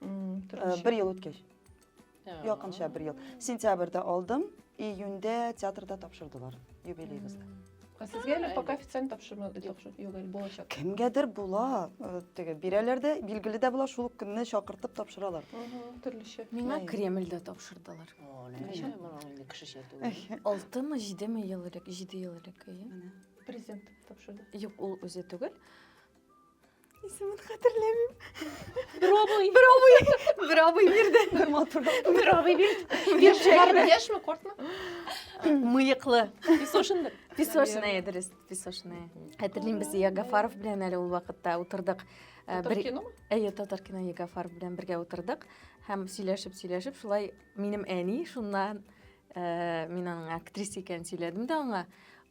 бер ел үткәч якынча бер ел сентябрьдә алдым июньдә театрда тапшырдылар юбилейыбызда ә сезгә әле пока официально тапшырмады тапшыр юк әле булачак кемгәдер була теге бирәләр дә билгеле дә була шул көнне чакыртып тапшыралар төрлечә миңа кремльдә тапшырдылар кешечә түгел алтымы җидеме ел элек җиде ел элек президент тапшырды юк ул үзе түгел Исемен хәтерләмим. Бровый. Бровый. Бровый бирде. Бер матур. Бровый бирде. Бер шәһәрдә. Яшьме, кортмы? Мыеклы. Песошинбер. Песошная, дөрес, песошная. Хәтерлим без Ягафаров белән әле ул вакытта утырдык. Э, татар кино? Әйе, татар кино Ягафаров белән бергә утырдык һәм сөйләшеп-сөйләшеп шулай минем әни шуннан Э, мин аның актриса икәнен сөйләдем дә аңа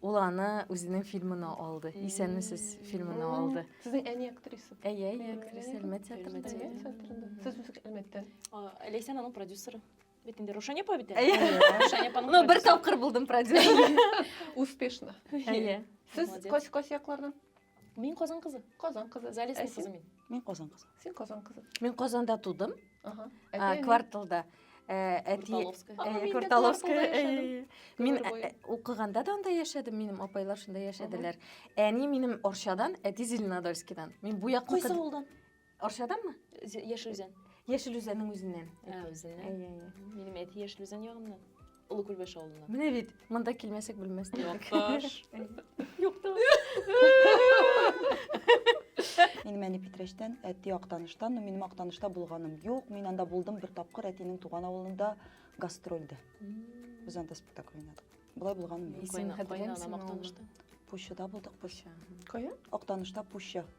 ул аны үзенең фильмына алды исәнмесез фильмына алды сезнең әни актриса әйе әйе актриса әлмәт театрында сез үзе әлмәттән ләйсән аның продюсеры бит инде рушания апа бит ну бер тапкыр булдым продюсер успешно әйе сез кайсы кайсы яклардан Мин Казан кызы. Казан кызы. Залесный кызы мин. Мин Казан кызы. Син Казан кызы. Мин Казанда тудым. Ага. Кварталда. Әти Кварталовская. Мин укыганда да анда яшәдем, минем апайлар шунда яшәделәр. Әни минем Орчадан, әти Зеленодольскидан. Мин бу якка Кайсы авылдан? Арчаданмы? Яшел Үзән. Яшел Үзәннең үзеннән. Ә, үзеннән. Әйе, әйе. Минем әти Яшел Үзән ягыннан. Олы Күлбәш авылыннан. Менә бит, монда килмәсәк белмәс. Якташ. Якташ. Минем әни Питрәчтән, әти Актаныштан, но минем Актанышта булганым юк. Мин анда булдым бер тапкыр әтинең туган авылында гастрольдә. Без анда спектакль уйнадык. Болай булганым юк. Исем хәтерләмисең? Пущада булдык, Пуща. Кая? Актанышта Пуща.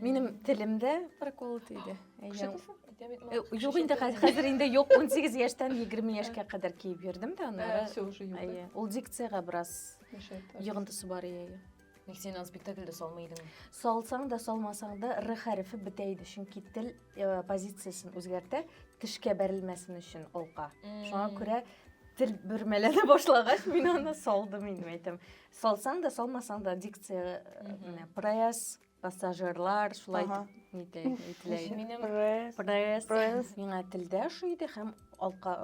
Минем телемдә прокол тиде. Юк инде хәзер инде юк 18 яшьтән 20 яшькә кадәр киеп йөрдем дә аннары. Все уже юк. Әйе. Ул дикциягә бераз йогынтысы бар ие. Ник син аны спектакльдә салмый идең? Салсаң да, салмасаң да р хәрефе бетә иде, чөнки тел э, позициясен үзгәртә, тешкә бәрелмәсен өчен алка. Шуңа күрә тел бөрмәләнә башлагач, мин аны салдым инде, әйтәм. Салсаң да, салмасаң да дикция, э, менә прояз пассажирлар шулай ага. итеп әйтелә иде минем пресс пресс миңа телдә ошый иде һәм алка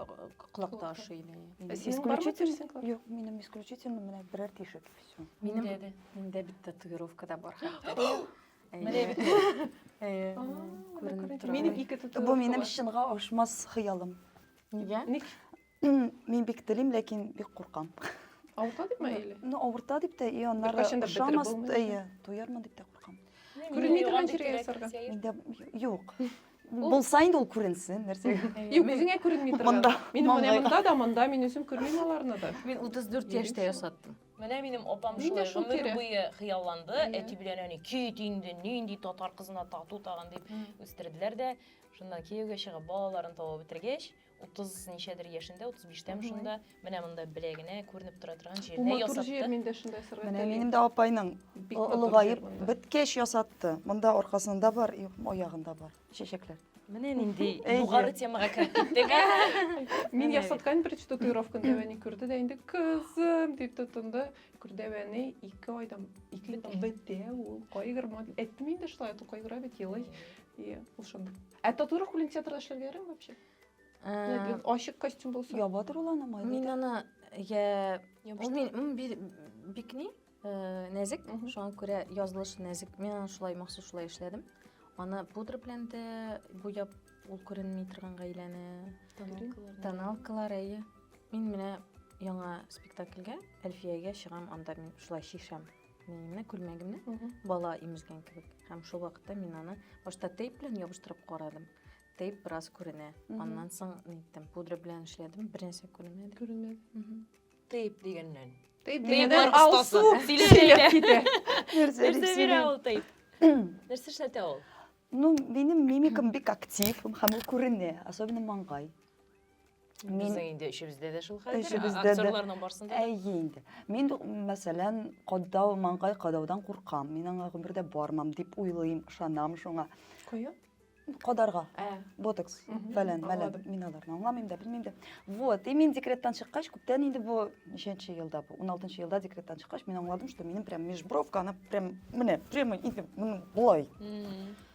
колакта ошый иде исключительно юк минем исключительно менә берәр тишек все минем дә миндә бит татуировка да бар менә бит күренеп тора минем ике татуировка бу минем чынга ашмас хыялым нигә ник Мин бик телим, ләкин бик куркам. Авырта дип ме или? Ну, авырта дип тә, и аннары Беркайчан да бетереп ошамас, булмый. әйе, туярмын дип тә куркам. Күренми торган җиргә ясарга. Миндә юк. Булса инде ул күренсен, нәрсә. Юк, үзеңә күренми торган. Монда, Мин менә маңгайга. монда да, монда мин үзем күрмим аларны да. Мин 34 яшьтә ясаттым. Менә минем апам Мин дә шулай шул гомер тирә. буе хыялланды. Әйе. Әти белән әни кит инде, нинди татар кызына тату тагын дип үстерделәр дә. Шуннан кияүгә чыгып, балаларын табып бетергәч, 30 ничәдер яшендә, 35-тәм шунда, менә монда беләгенә күренеп тора торган җирдә ясатты. Бу матур җир, мин дә шунда ясарга телим. Менә минем дә апайның олыгаеп беткәч ясатты. Монда аркасында бар, аягында бар чәчәкләр. Менә нинди югары темага кереп киттек. Мин ясаткан беренче татуировканы Дәвәни күрде дә инде кызым дип тотынды. Күрдәвәни ике айдан ике бетә ул кайгырмады. Әйттем инде шулай, кайгыра бит елый. И ул шундый Ә татуировка белән театрда эшләргә ярамый вообще? Ә, Ачык костюм булса. Яба тор ул аны майлы. Мин аны я ул мин м, би- бикни э, нәзек, Мгм. шуңа күрә язылышы нәзек. Мин аны шулай махсус шулай эшләдем. Аны пудра белән дә буяп, ул күренми торган гаиләне. Тоналкалар әйе. Мин менә яңа спектакльгә, Әлфиягә чыгам, анда мин шулай чишәм. Менә күлмәгемне бала имезгән кебек. Һәм шул вакытта мин аны башта тейп белән ябыштырып карадым. Тейп бераз күренә. Аннан соң ниттем, пудра белән эшләдем, бернәрсә күренмәде. Күренмәде. Тейп дигәннән. Тейп дигәннән алсу сөйләп китә. Нәрсә бирә ул тейп? Нәрсә эшләтә ул? Ну, минем мимикам бик актив, һәм ул күренә, особенно маңгай. Мин инде эшебездә дә шул хәлдер. Эшебездә дә. Актерларның барсында. Әйе инде. Мин мәсәлән, кадау, маңгай кадаудан куркам. Мин аңа гомердә бармам дип уйлыйм, ышанам шуңа. Кую? Кадарга. Ә. Ботокс, фәлән, мәлән. Мин аларны аңламыйм да, белмим дә. Вот, и мин декреттан чыккач, күптән инде бу ничәнче елда бу? 16 елда декреттан чыккач, мин аңладым, что минем прям межбровка, она прям, менә, прямо инде, болай.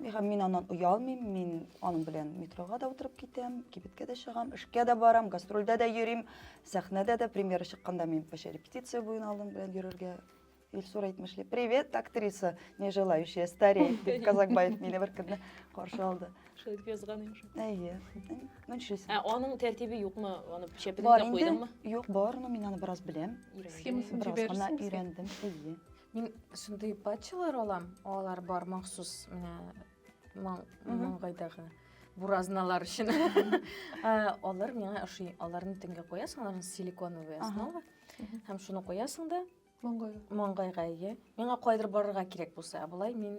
Миһам, мин аннан оялмыйм, мин аның белән метрога да утырып китәм, кибеткә дә чыгам, эшкә дә барам, гастрольдә дә йөрим, сәхнәдә дә премьера чыкканда мин почти репетиция буен алдым белән йөрергә. Илсур әйтмешли, привет, актриса, не желающая стареть, дип Казакбаев мине бер көнне каршы алды. Шулай итеп язган инде шул. Әйе. Ну, нишлисең? Ә аның тәртибе юкмы? Аны чәпенә Бар инде, куйдыңмы? юк, барны мин аны бераз беләм, Өйрәндең. Схемасын бераз гына җибәрсең. өйрәндем. Әйе. Мин шундый патчалар алам, алар бар махсус менә маңгайдагы буразналар өчен. Алар миңа ошый. Аларны төнгә куясың, аларны силиконовый основа. Һәм шуны куясың да маңгайга. Маңгайга ие. Миңа кайдыр барырга кирәк булса, ә болай мин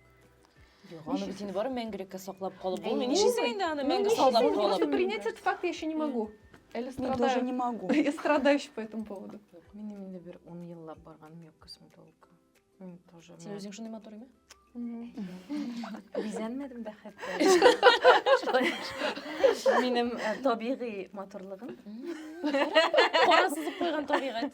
Юк, аны бит инде барып мәңгелеккә саклап калып булмый. Нишлисең инде аны мәңге саклап калып? Принять этот факт я еще не могу. Әле страдаю. Я тоже не могу. Я страдаю еще по этому поводу. Мин инде бер 10 еллап барганым юк косметологка. Мин тоже. Син үзең шундый матур име? Бизәнмәдем дә хәтта. Минем табигый матурлыгым. Кара сызып куйган табигать.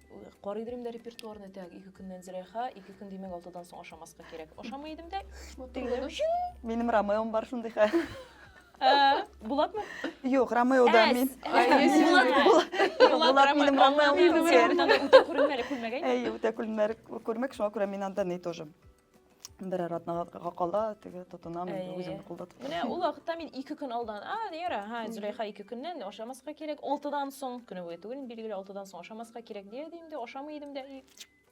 Карый идем дә репертуарны, так, ике көннән зрәха, ике көн димәк алтыдан соң ашамаска кирәк. Ашамый идем дә, Минем Ромеом бар шундый хәл. Ә, Булатмы? Юк, Ромео да мин. Булат минем Ромеом. Минем Ромеом. Күрмәле, күрмәгәй. Әй, үтә күрмәк, шуңа күрә мин анда ни тоже. берәр атнага кала теге тотынам инде үзем кулда тотам. Менә ул вакытта мин ике көн алдан, а, яра, ха, Зөләйха ике көннән ашамаска кирәк, алтыдан соң, көне буе түгел, билгеле, алтыдан соң ашамаска кирәк дия идем дә, ашамый идем дә, и,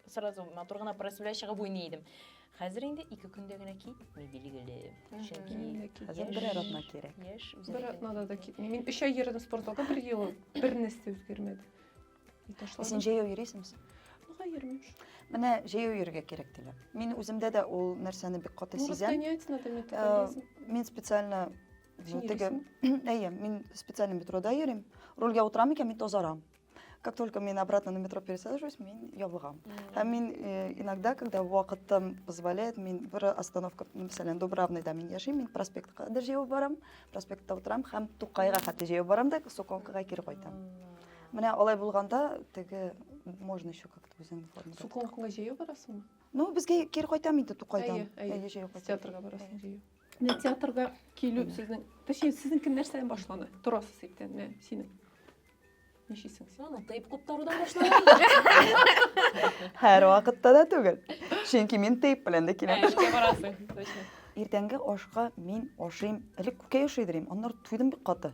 сразу матур гына просвля чыгып уйный идем. Хәзер инде ике көндә генә китми, билгеле. Чөнки хәзер берәр атна кирәк. Яшь, бер атнада да китми. Мин өч ай йөрдем спортзалда, бер ел бер нәрсә үзгәрмәде. Син җәяү йөрисең син? Нога йөрмим шул. Менә җәяү йөрергә кирәк диләр. Мин үземдә дә ул нәрсәне бик каты сизәм. Может, надо метаболизм? Э, мин специально теге, әйе, мин специально метрода йөрим. Рульгә утырам икән, мин тозарам. Как только мин обратно на метро пересаживаюсь, мин ябыгам. Һәм мин э, иногда, когда вакытым позволяет, мин бер остановка, мәсәлән, Дубравныйда мин яшим, мин проспектка кадәр җәяү барам, проспектта утырам һәм Тукайга хәтта җәяү барам да Соконкага кире кайтам. Менә алай булганда теге можно еще как-то үзеңне форма. Суконкуга җәяү барасыңмы? Ну, безгә кире кайтам инде Тукайдан. Әйе, әйе, җәяү кайтам. Театрга барасың җәяү. Менә театрга килү сезнең, точнее, сезнең нәрсәдән башлана? Торасыз иткән, менә синең. Ничисең син? Аны тыйп куптарудан башлана. Һәр вакытта да түгел. Чөнки мин тыйп белән дә киләм. Эшкә барасың, точно. Иртәнге ашка мин ашыйм, элек күкәй ашый идем, аннары туйдым бик каты.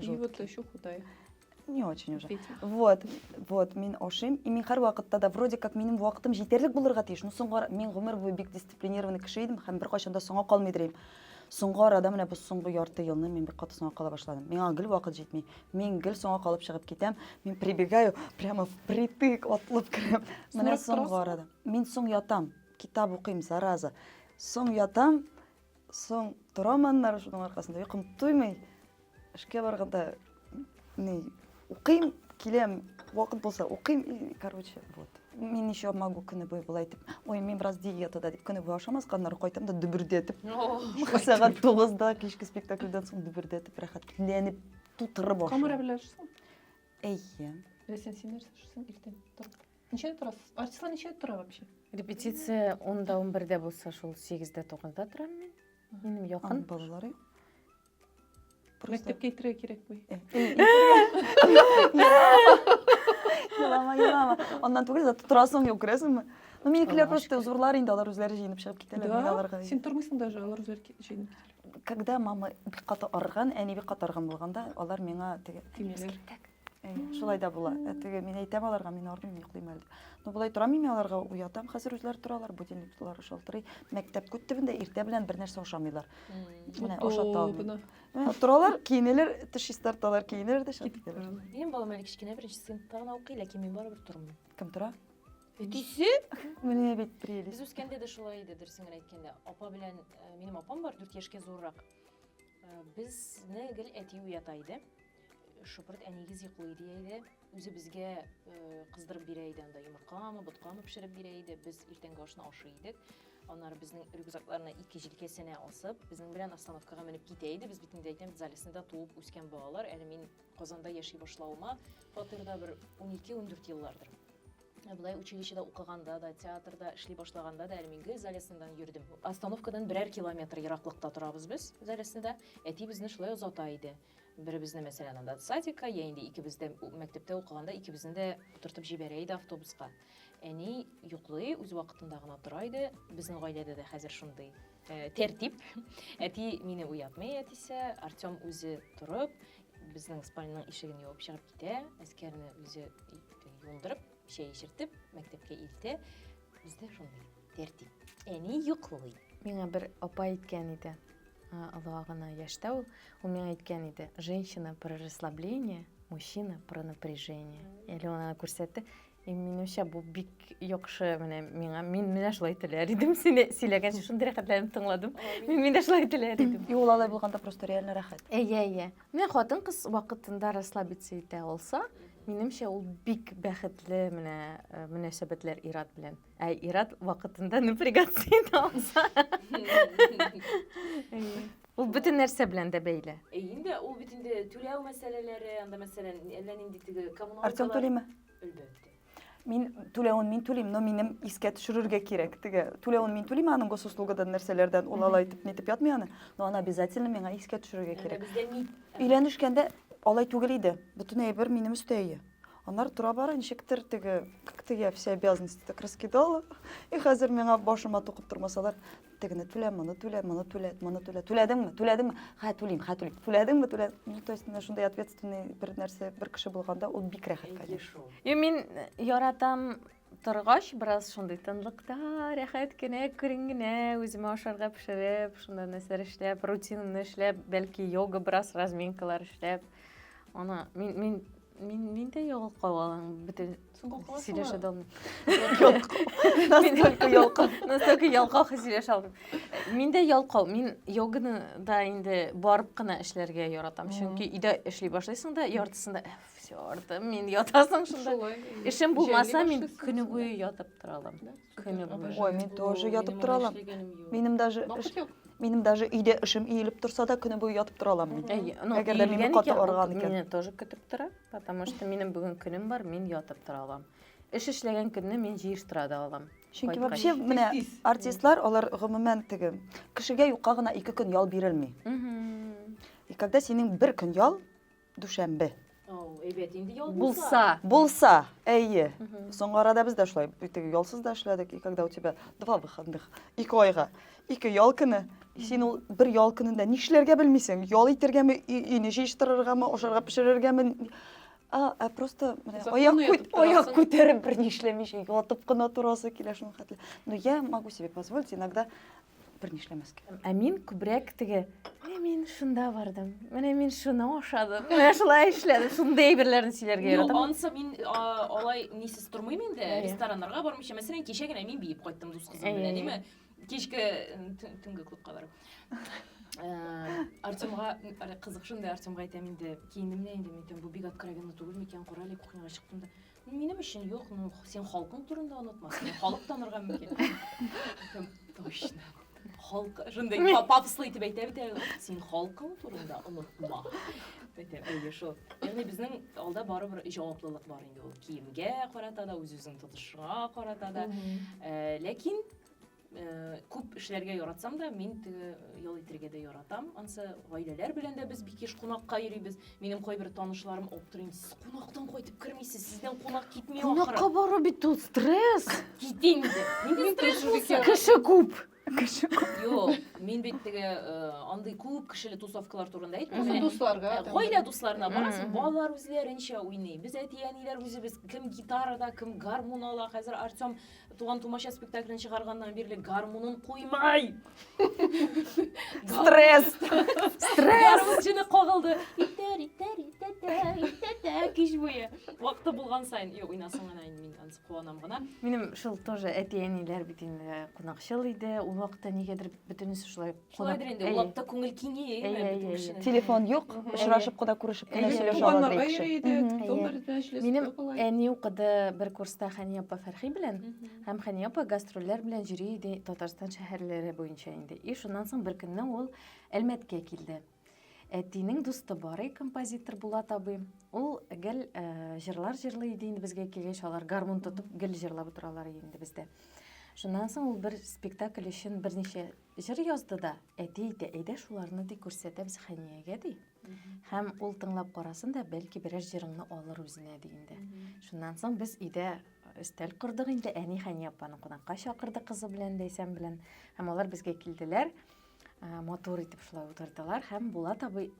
И вот еще худая. Не очень уже. Вот, вот, мин ашыйм. И мин һәр вакытта да вроде как минем вакытым җитәрлек булырга тиеш. Но соңга мин гомер буе бик дисциплинированный кеше идем һәм беркайчан да соңга калмый дирим. Соңга арада менә бу соңгы ярты елны мин бик каты соңга кала башладым. Миңа гел вакыт җитми. Мин гел соңга калып чыгып китәм. Мин прибегаю прямо впритык атлып керәм. Менә соңга арада. Мин соң ятам, китап укыйм, зараза. Соң ятам, Соң торам аннары шуның аркасында, йокым туймый. Эшкә барганда ни, укыйм, киләм, вакыт булса укыйм, и, короче, вот. Мин еще могу көне буе болай итеп, ой, мин бераз диетада дип көне буе ашамаска, аннары кайтам да дөбердәтеп. Сәгать 9-да кичке спектакльдән соң дөбердәтеп рәхәтләнеп тутырып ашыйм. Камыра белән ашыйсың? Әйе. Ләсен син нәрсә ашыйсың иртән торып? Ничәдә торасыз? Артистлар ничәдә тора вообще? Репетиция 10-да 11-дә булса, шул 8-дә 9-да торам мин. Минем якын. Балалары. Мәктәпкә китерә кирәкми. Елама, елама. Аннан түгел, зато торасың, юк, күрәсеңме? Ну, минекеләр просто зурлар инде, алар үзләре җыенып чыгып китәләр. Да, син тормыйсың даже, алар үзләре җыенып китәләр. Когда мама бик каты арган, әни бик каты арган булганда, алар миңа теге... Тимиләр. Шулай да була. Ә теге мин әйтәм аларга, мин ормыйм, йоклыйм әле. Ну болай торам мин аларга уятам, хәзер үзләре торалар, будильниклары шалтырый. Мәктәп күт төбендә иртә белән бер нәрсә ашамыйлар. Менә ашата алмыйм. Торалар, киенәләр, теш чистарталар, киенәләр дә чыгып китәләр. Минем балам әле кечкенә беренче сыйныфта гына укый, ләкин мин барыбер тормыйм. Кем тора? Әтисе? Менә бит прелесть. Без үскәндә дә шулай иде, дөресен генә әйткәндә. Апа белән, минем апам бар, 4 яшькә зуррак. Безне гел әти уята иде. Шупырт әнигез йоклый дия иде. Үзе безгә кыздырып бирә иде анда йомыркамы, боткамы пешереп бирә иде. Без иртәнге ашны ашый идек. Аннары безнең рюкзакларны ике җилкәсенә асып, безнең белән остановкага менеп китә иде. Без бит инде әйтәм, Залесныйда туып үскән балалар. Әле мин Казанда яши башлавыма фатирда бер 12-14 еллардыр. Ә болай училищеда укыганда да, театрда эшли башлаганда да әле мин гел залесныйдан йөрдем. Остановкадан берәр километр ераклыкта торабыз без залесныйда. Әти безне шулай озата иде. Беребезне, мәсәлән, анда садикка, я инде икебез дә мәктәптә укыганда икебезне дә утыртып җибәрә иде автобуска. Әни йоклый, үз вакытында гына тора иде. Безнең гаиләдә дә хәзер шундый э, тәртип. Әти мине уятмый, әтисе. Артем үзе торып, Безнең спальняның ишеген ябып чыгып китә, әскәрне үзе юындырып, чәй эчертеп, мәктәпкә илтә. Бездә шундый тәртип. Әни йоклый. Миңа бер апа әйткән иде, олыга гына яшьтә ул, ул миңа әйткән иде, женщина про расслабление, мужчина про напряжение. Әле ул аңа күрсәтте, Минемчә бу бик яхшы менә миңа. Мин менә шулай теләр идем. Сине сөйләгәнче шундый рәхәтләнеп тыңладым. Мин менә шулай теләр идем. И ул алай булганда просто реально рәхәт. Әйе, әйе. Менә хатын кыз вакытында расслабиться итә алса, минемчә ул бик бәхетле менә э, мөнәсәбәтләр ират белән. Ә ират вакытында напрягаться итә алса. Ул бөтен нәрсә белән дә бәйле. Инде ул бит инде түләү мәсьәләләре, анда мәсәлән, әллә нинди теге коммуналкалар. Артем Тулима. Әлбәттә. Мин түләвен мин түлим, но минем искә төшерергә кирәк. Теге түләвен мин түлим, аның госуслугадан нәрсәләрдән ул алай итеп нитеп ятмый аны, но аны обязательно миңа искә төшерергә кирәк. Өйләнешкәндә алай түгел иде. Бөтен әйбер минем өстә ие. Аннары тора бара ничектер теге как-то я все обязанности так раскидала. И хәзер миңа башыма тукып тормасалар, тегене түлә, моны түлә, моны түлә, моны түлә. Түләдеңме? Түләдеңме? Хә, түлим, хә, түлим. Түләдеңме? Түлә. Ну, то есть, шундай ответственный бер нәрсә, бер кеше булганда, ул бик рәхәт, конечно. Йо, мин э, яратам торгач, бераз шундый тынлыкта, рәхәт кенә, күрен генә, үземә ашарга пешереп, шунда нәрсәләр эшләп, рутинаны эшләп, бәлки йога бераз разминкалар эшләп. Аны мин мин Мин мин дә ялкау алам бөтен сөйләшә дә алмыйм. Настолько ялкау. Настолько ялкау сөйләшә алмыйм. Мин дә ялкау. Мин йоганы да инде барып кына эшләргә яратам. Чөнки өйдә эшли башлыйсың да, яртысында «Э, все, артым, мин ятасың шунда. Эшем булмаса, мин көне буе ятып тора алам. Кем я буду? Ой, мин тоже ятып тора алам. Минем даже эш, минем даже өйдә эшем иелеп торса да, көне буе ятып тора алам мин. Әй, ну, Әгәр дә мине иелгән каты икән, арыган икән. Мине тоже көтеп тора, потому что минем бүген көнем бар, мин ятып тора алам. Эш эшләгән көнне мин җыештыра да алам. Чөнки Кайткач. вообще менә Тиз-тиз. артистлар, алар гомумән теге кешегә юкка гына ике көн ял бирелми. Мгм. И когда синең бер көн ял, дүшәмбе әйбәт инде ял булса булса әйе соңгы арада без дә шулай теге ялсыз да эшләдек и когда у тебя два выходных ике айга ике ял көне син ул бер ял көнендә нишләргә белмисең ял итергәме өйне җыештырыргамы ашарга пешерергәме а, а просто менә аяк күт, аяк күтәреп бер нишләмичә ятып кына торасы килә шуның хәтле но я могу себе позволить иногда бер ни эшләмәскә. Ә мин күбрәк теге, менә мин шунда бардым, менә мин шуны ашадым, менә шулай эшләдем, шундый әйберләрне сөйләргә яратам. Юк, ансы мин алай нисез тормыйм инде, рестораннарга бармыйча. Мәсәлән, кичә генә мин биеп кайттым дус кызым белән, әйеме? Кичке төнге клубка барып. Э, Артемга кызык шунда Артемга әйтәм инде, киендем дә инде, әйтәм, бу бик откровенно түгел микән, кара әле кухняга чыктым да. Минем өчен юк, ну, син халкың турында онытма, сине халык танырга мөмкин. Дидем, Точно. Халк, шундай па- пафослы итеп әйтә бит әле, син халкың турында онытма. Әйтә, әйе шул. Ягъни безнең алда барыбер җаваплылык бар инде ул. Киемгә карата да, үз-үзен тотышга карата да. Э, Ләкин Э, күп эшләргә яратсам да мин теге э, ял итәргә дә яратам ансы гаиләләр белән дә без бик еш кунакка йөрибез минем кайбер танышларым аптырыйм сез кунактан кайтып кермисез сездән кунак китми ахыры кунакка бару бит ул стресс китим инде нинди стресс булса кеше күп кеше күп юк мин бит теге э, андый күп кешеле тусовкалар турында әйтмим дусларга гаилә дусларына барасың балалар үзләренчә уйный без әти әниләр үзебез кем гитарада кем гармун ала хәзер артем Туган-тумача спектаклен чыгарганнан бирле гармунын куймай! Стресс! Стресс! Гармунчыны кагылды. Итәр, итәр, итәтә, итәтә, кич буе. Вакыты булган сайын, юк, уйнасын гына инде мин ансы куанам гына. Минем шул тоже әти-әниләр бит инде кунакчыл иде. Ул вакытта нигәдер бөтенесе шулай Шулайдыр инде, ул вакытта күңел киңәя. Телефон юк, очрашып кына күрешеп кенә сөйләшә алабыз. Минем әни укыды бер курста Хәния апа Фәрхи белән, һәм Хәния апа гастрольләр белән йөри иде Татарстан шәһәрләре буенча инде. И шуннан соң бер көнне ул Әлмәткә килде. Әтинең дусты бар и композитор Булат абый. Ул гел җырлар җырлый иде инде безгә килгәч, алар гармун тотып гел җырлап утыралар иде инде бездә. Шуннан соң ул бер спектакль өчен берничә Җыр язды да, әти әйтә, әйдә шуларны ди күрсәтәбез Хәниягә ди. Һәм ул тыңлап карасын да, бәлки берәр җырыңны алыр үзенә ди инде. Шуннан соң без өйдә өстәл кордык инде, әни Хәния апаны кунакка чакырды кызы белән, Ләйсән белән. Һәм алар безгә килделәр. Матур итеп шулай утырдылар һәм Булат абый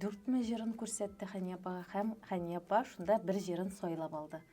дүртме җырын күрсәтте Хәния апага һәм Хәния апа шунда бер җырын сайлап алды.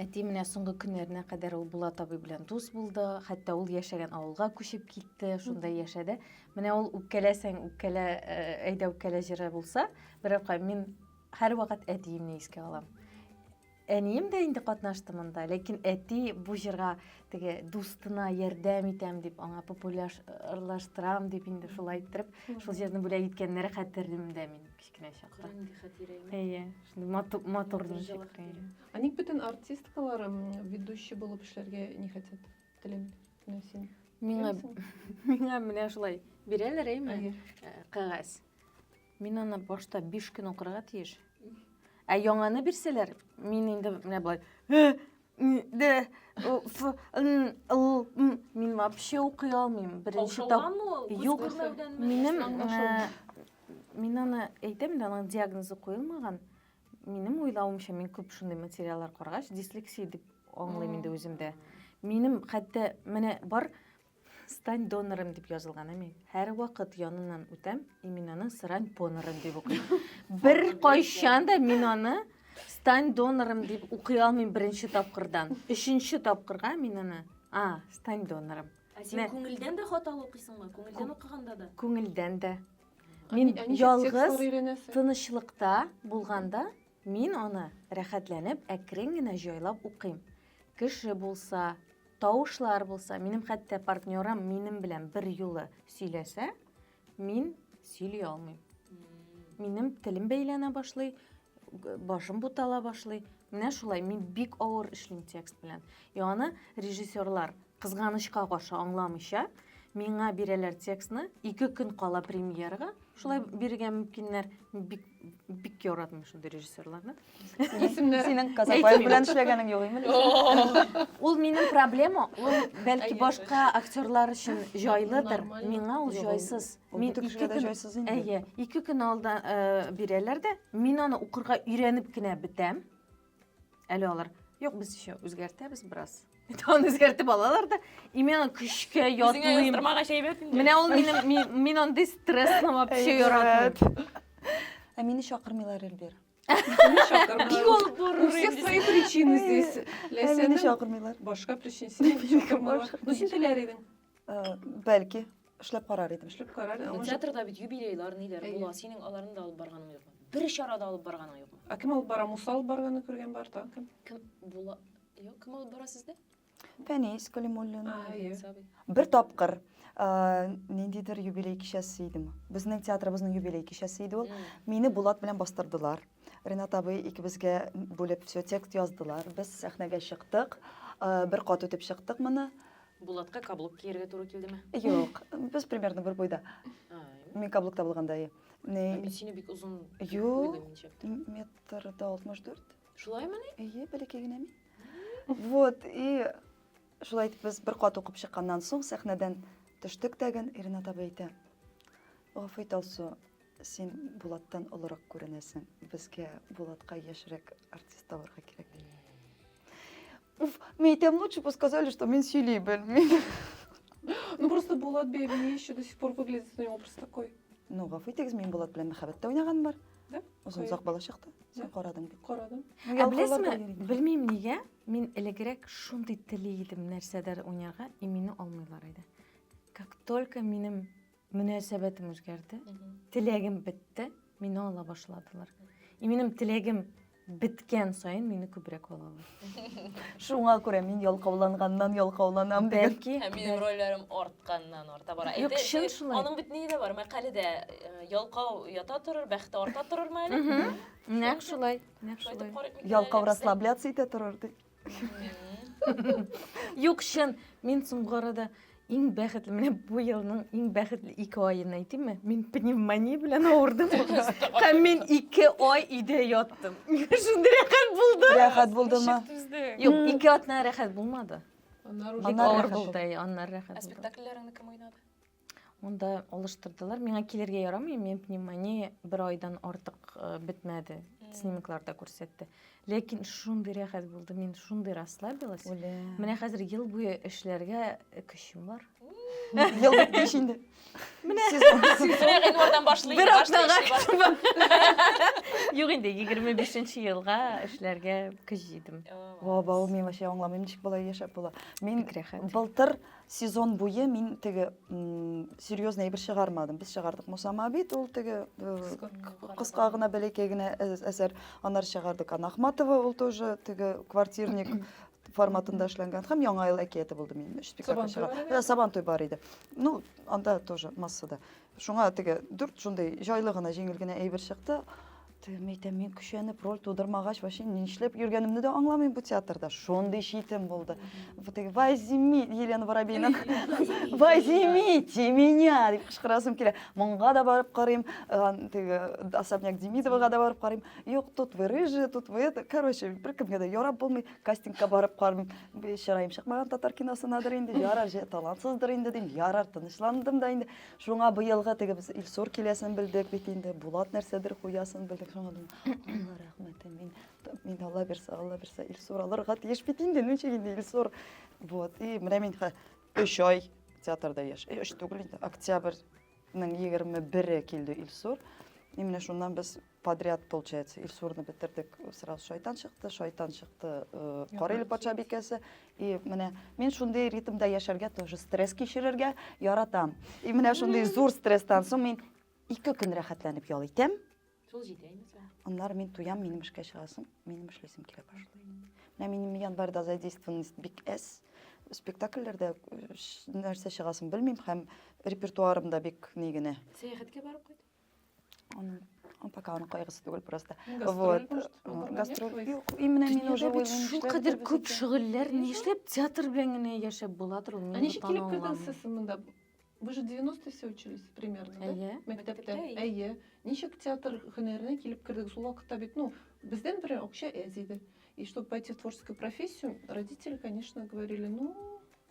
Әти менә соңгы көннәренә кадәр ул Булат табиб белән дус булды. Хәтта ул яшәгән авылга күчеп китте, шунда яшәде. Менә ул үпкәләсәң, үпкәлә, э, әйдә үпкәлә җыры булса, берапка мин һәр вакыт әтиемне искә алам. Әнием дә инде катнашты монда, ләкин әти бу җырга теге дустына ярдәм итәм дип, аңа популярлаштырам дип инде шулай иттереп, шул җырны бүләк иткәннәре хәтерлимдә мин. кечкенә чакта. Караңгы хәтирә име? Әйе, шундый матур, матур ничек хәтирә. Ә ник бөтен артисткалар ведущий булып эшләргә не хотят? Телем, менә син. Миңа, миңа менә шулай бирәләр әйме? Э, кәгазь. Мин аны башта 5 көн укырга тиеш. Ә яңаны бирсәләр, мин инде менә болай, «Э, Д, О, Ф, Н, Л, М. Мин вообще укый алмыйм. Беренче тап... Каушаудан ул? Күз Юк, күрмәүдәнме? минем... Аңлашылмый. э, Мин аны әйтәм дә, аның диагнозы куелмаган. Минем уйлавымча, мин күп шундый материаллар карагач, дислексия дип аңлыйм инде үземдә. Минем хәтта менә бар Стань донорым дип язылган, ә мин һәрвакыт яныннан үтәм, и мин аны срань понорым дип укыйм. Бер кайчан да мин аны стань донорым дип укый алмыйм беренче тапкырдан. Өченче тапкырга мин аны, а, стань донорым. Ә син күңелдән дә хаталы укыйсыңмы? Күңелдән укыганда да? Күңелдән дә. Мин ялгыз, тынычлыкта булганда, Мин аны рәхәтләнеп әкрен генә җайлап укыйм. Кеше булса, тавышлар булса, минем хәтта партнерым минем белән бер юлы сөйләсә, мин сөйли алмыйм. Минем телем бәйләнә башлый, башым бутала башлый. Менә шулай мин бик авыр эшлим текст белән. И аны режиссерлар Кызганычка каршы аңламыйча, миңа бирәләр текстны, ике көн кала премьерага, шулай бирергә мөмкиннәр. Бик бик яратмыйм шундый режиссерларны. Исемнәр. Синең Казапай белән эшләгәнең юк име? Ул минем проблема, ул бәлки башка актерлар өчен җайлыдыр, миңа ул җайсыз. Мин ике көн җайсыз инде. Әйе, ике көн алда э, бирәләр дә, мин аны укырга өйрәнеп кенә бетәм. Әле алар, юк, без еще үзгәртәбез бераз. Тагын үзгәртеп алалар да, именно көчкә ятлыйм. Менә ул минем, мин андый стрессны вообще яратмыйм. Ә мине чакырмыйлар, Эльбир. Бик алып барыр. У всех свои причины здесь. Ләсәне чакырмыйлар. Башка причина. Бу син теләр идең. Э, Бәлки, эшләп карар идем. Эшләп карар. Ә Театрда бит юбилейлар ниләр Әйе. була. Синең аларны да алып барганың юкмы? Бер чарада алып барганың юкмы? Ә кем алып бара? Муса алып барганы күргән бар та. Кем? Кем була? Юк, кем алып бара сездә? Фәнис Калимуллин. Әйе. Сабый. Бер тапкыр э, ниндидер юбилей кичәсе идеме? Безнең театрыбызның юбилей кичәсе иде ул. М. Мине Булат белән бастырдылар. Ренат абый икебезгә бүлеп все текст яздылар. Без сәхнәгә чыктык. Э, Бер кат үтеп чыктык моны. Булатка каблук кияргә туры килдеме? Юк, без примерно бер буйда. Мин каблукта булганда, әйе. Мин сине бик озын Юк, метр да 64. Шулаймы ни? Әйе, бәләкәй генә мин. Вот, и шулай итеп без бер кат укып чыкканнан соң сәхнәдән төштек тәген, Ирина таба әйтә. Гафу ит, Алсу, Син Булаттан олырак күренәсең. Безгә Булатка яшьрәк артист табарга кирәк. Уф, мне тем лучше бы сказали, что мин сөйли белмим. Ну просто Булат бей, мне еще до сих пор выглядит у него образ такой. Ну, гафу итегез, мин Булат белән мәхәббәттә уйнаган бар. Да? Озын озак бала чакта. Син карадың бит. Карадым. Ә беләсезме, белмим нигә, мин элегрәк шундый тели идем нәрсәдер уйнарга, и мине алмыйлар иде. Как только минем Мөнәсәбәтем үзгәрде. Теләгем бетте, мине ала башладылар. И минем теләгем беткән саен мине күбрәк алалар. Шуңа күрә мин ялкауланганнан ялкауланам дигән. Бәлки Һәм минем рольләрем артканнан арта бара. Юк, Әйтә- чын шулай. Аның бит ни дә бар, мәкаләдә э, ялкау ята торыр, бәхете арта торырмы әле? нәкъ шулай, нәкъ Шайтып шулай. карыйк микән әле Ялкау без дә? расслабляться итә торыр ди. Юк, чын, мин соңгы арада иң бәхетле, менә бу елның иң бәхетле ике аен әйтимме? Мин пневмония белән авырдым. Һәм мин ике ай өйдә яттым. Миңа шундый рәхәт булды. Рәхәт булдымы? Юк, ике атна рәхәт булмады. Бик Аннары авыр рәхәт булды, әй, аннары рәхәт Ә булды. спектакльләреңне кем уйнады? Монда алыштырдылар. Миңа килергә ярамый, мен пневмония бер айдан артык э, бетмәде. Снимокларда күрсәтте. Ләкин шундый рәхәт булды, мин шундый расслабилась. Үлә. Менә хәзер ел буе эшләргә көчем бар. Ел беткәч инде. Менә гыйнвардан башлый. Бер атнага көчем бар. Юк инде, 25-нче елга эшләргә көч җыйдым. Вау, вау, мин вообще аңламыйм, ничек болай яшәп була. Мин Бик рәхәт. былтыр сезон буе мин теге серьезный әйбер чыгармадым. Без чыгардык Мусама бит, ул теге кыска гына бәләкәй генә әсәр. Аннары чыгардык Анахматова, ул тоже теге квартирник форматында эшләнгән һәм яңа ел әкияте булды минем өч спектакль чыга. Сабантуй бар иде. Ну, анда тоже массада. Шуңа теге дүрт шундый җайлы гына, җиңел генә әйбер чыкты. Тем әйтәм, мин көчәнеп роль тудырмагач, вообще нишләп йөргәнемне дә аңламыйм бу театрда. Шундый читем булды. Вот теге возьми Елена Воробейның возьмите меня дип кычкырасым килә. Монга да барып карыйм, э, теге особняк Демидовага да барып карыйм. Юк, тут вы рыжие, тут вы это. Короче, беркемгә дә ярап булмый. Кастингка барып карыйм. Чыраем чыкмаган татар киносынадыр инде. Ярар, же талантсыздыр инде дим. Ярар, тынычландым да инде. Шуңа быелгы теге без Илсур киләсен белдек бит инде, Булат нәрсәдер куясын белдек. Шуңа дим, Алла рәхмәте, мин мин Алла бирсә, Алла бирсә Илсур алырга тиеш бит инде, ничек инде Илсур. Вот, и менә мин 3 ай театрда яш. Өч түгел инде, октябрьнең 21-е килде Илсур. И менә шуннан без Подряд, получается, Илсурны бетердек, сразу шайтан чыкты, шайтан чыкты, э, Карел патша бикәсе. И менә мин шундый ритмда яшәргә, тоже стресс кичерергә яратам. И менә шундый зур стресстан соң мин ике көн рәхәтләнеп ял итәм. Шул җитәме соң? Аннары мин туям, минем эшкә чыгасым, минем эшлисем килә башлый. Менә минем январьда задействованность бик әз. Спектакльләрдә э, нәрсә чыгасын белмим һәм репертуарым да бик ни генә. Сәяхәткә барып кайт. Аны ну, пока аны кайгысы түгел просто. Вот. Гастроль. Юк, именно мин уже уйлыйм. Шул кадәр күп шөгыльләр ни эшләп театр белән генә яшәп була тору? Ә ничек килеп кердегез сез монда? Вы же 90 все учились примерно, да? Әйе. Мәктәптә. Әйе. Ничек театр һөнәренә килеп кердегез? Ул вакытта бит, ну, бездән бер акча әз иде. И чтобы пойти в творческую профессию, родители, конечно, говорили, ну,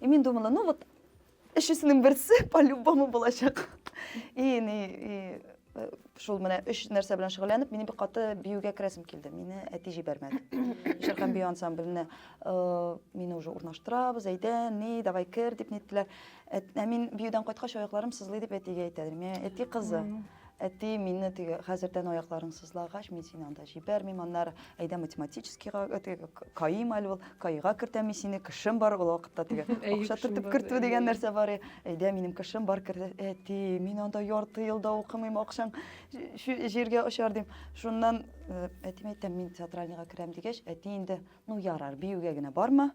И мин думала, ну вот, өчесенең берсе по-любому булачак. И ни, и э, шул менә өч нәрсә белән шөгыльләнеп, мине бик каты биюгә керәсем килде. Мине әти җибәрмәде. Җыр һәм бию ансамбленә э, мине уже урнаштырабыз, әйдә, ни, давай кер дип ниттеләр. Ә мин биюдән кайткач аякларым сызлый дип әтигә әйтә идем. Әти кызы. Әти, мине теге, хәзердән аякларың сызлагач, мин сине анда җибәрмим, аннары әйдә математическийга, теге, каим әле ул, каига кертәм мин сине, кешем бар ул вакытта теге, акча төртеп кертү дигән нәрсә бар, әйдә, минем кешем бар, кертә, әти, мин анда ярты ел да укымыйм, акчаң җиргә очар, дим. Шуннан әтимә әйтәм, мин театральныйга керәм дигәч, әти инде ну ярар биюгә генә барма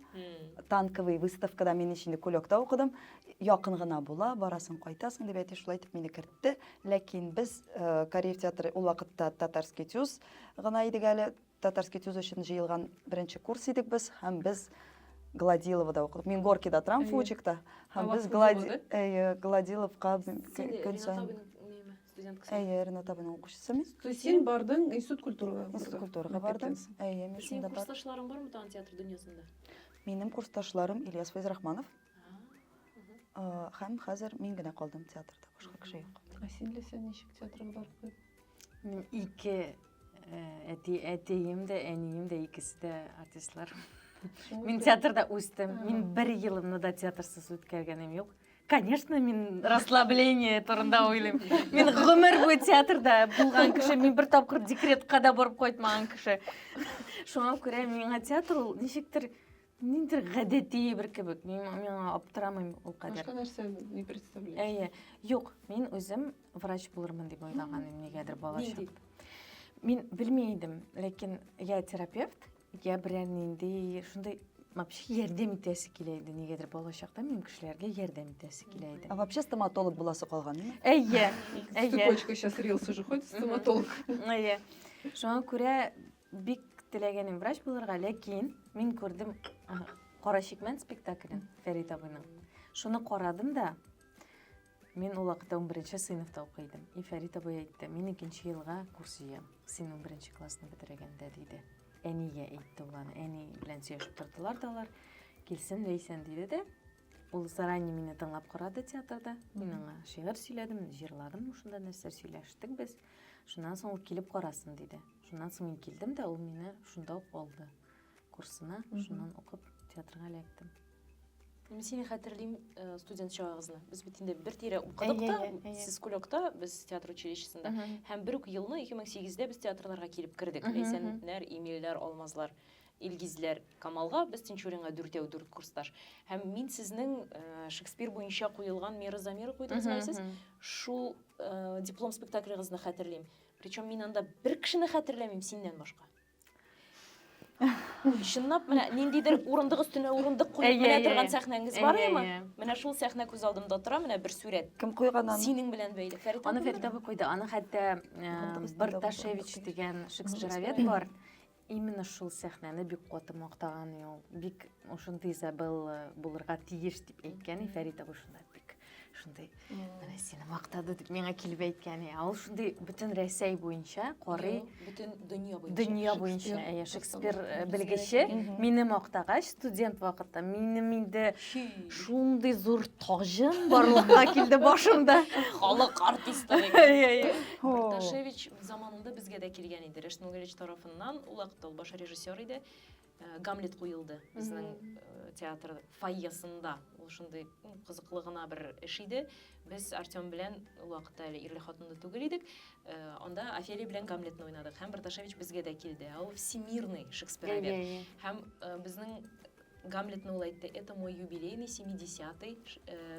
танковый выставкада мин инде кулёкта укыдым якын гына була барасың кайтасың дип әти шулай итеп мине кертте ләкин без э, карьер театры ул вакытта татарский тюз гына идек әле татарский тюз өчен җыелган беренче курс идек без һәм без Гладиловада укыдык. Мин Горкида торам, Фучикта. Һәм без Гладиловка көн сайын Студентка. Әйе, Ренат табының укучысы мин. То есть син бардың институт культурага? Институт культурага бардым. Әйе, мин шунда бар. Синең курсташларың бармы тагын театр дөньясында? Минем курсташларым Ильяс Файзрахманов. Һәм хәзер мин генә калдым театрда, башка кеше юк. Ә син ләсә ничек театрга барды? Мин ике әти әтием дә, әнием дә икесе дә артистлар. Мин театрда үстем. Мин бер елымны да театрсыз үткәргәнем юк. конечно мин расслабление турында уйлыйм мин гомер буе театрда булган кеше мин бер тапкыр декретка да барып кайтмаган кеше шуңа күрә миңа театр ул ничектер ниндидер гадәти бер кебек мин миңа аптырамыйм ул кадәр башка нәрсә не представляешь әйе юк мин үзем врач булырмын дип уйлаган идем нигәдер балачак мин белми идем ләкин я терапевт Я берәр нинди шундый вообще ярдәм итәсе килә иде нигәдер балачакта минем кешеләргә ярдәм итәсе килә иде А вообще стоматолог буласы калган, ме? әйе С әйе цепочкой сейчас рилс уже ходит, стоматолог. әйе шуңа күрә бик теләгәнем врач булырга ләкин мин күрдем а, кара чикмән спектаклен фәрит абыйның шуны карадым да Мин ул вакытта унберенче сыйныфта укый идем. И Фәрит абый әйтте, мин икенче елга курс җыям, син унберенче классны бетерәгәндә, диде. Әнигә әйтте ул аны, әни белән сөйләшеп тордылар да алар. Килсен Ләйсән диде дә, ул заранее мине тыңлап карады театрда. Мин аңа шигырь сөйләдем, җырладым, шунда нәрсә сөйләштек без. Шуннан соң ул килеп карасын диде. Шуннан соң мин килдем дә, ул мине шунда ук алды. курсына, шуннан укып театрга эләктем. Мин сине хәтерлим э, студент чагыгызны. Без бит инде бер тирә укыдык та, сез кулёкта, без театр училищесында. Һәм бер үк елны 2008-дә без театрларга килеп кердек. Ләйсәннәр, Имилләр, Алмазлар, Илгизләр, Камалга, без Тинчуринга дүртәү дүрт курсташ. Һәм мин сезнең э, Шекспир буенча куелган Мира Замира куйдыгыз мәлсез. Шул э, диплом спектаклегызны хәтерлим. Причем мин анда бер кешене хәтерләмим синнән башка. чынлап менә ниндидер урындык өстенә урындык куеп менә торган сәхнәңез бар ме менә шул сәхнә күз алдымда тора менә бер сурәт кем куйган аны синең белән бәйле фәрит аны фәрит абый куйды аны хәтта барташевич дигән шекспировед бар именно шул сәхнәне бик каты мактаган ул бик ошондый изабелла булырга тиеш дип әйткән фәрит абый шунда бик шундай менә сені мактады дип миңа килеп әйткән ә ул шундый бөтен рәсәй буенча карый бөтен дөнья буенча дөнья буенча әйе шекспир э, белгече мине мактагач студент вакытта минем инде шундый зур таҗым барлыкка килде башымда халык артисты Барташевич заманында безгә дә килгән иде Рәшнул Галич тарафыннан ул вакытта ул баш режиссер иде Э, гамлет куелды безнең э, театр фойесында ул шундый кызыклы гына бер эш иде без артем белән ул вакытта әле ирле хатынлы түгел идек э, анда офелия белән гамлетны уйнадык һәм барташевич безгә дә килде ә ул всемирный шекспировед һәм безнең гамлетны ул әйтте это мой юбилейный семидесятый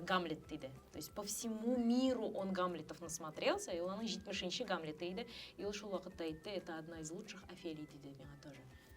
гамлет диде то есть по всему миру он гамлетов насмотрелся и ул аның җитмешенче гамлеты иде и ул шул вакытта әйтте это одна из лучших офелий диде миңа тоже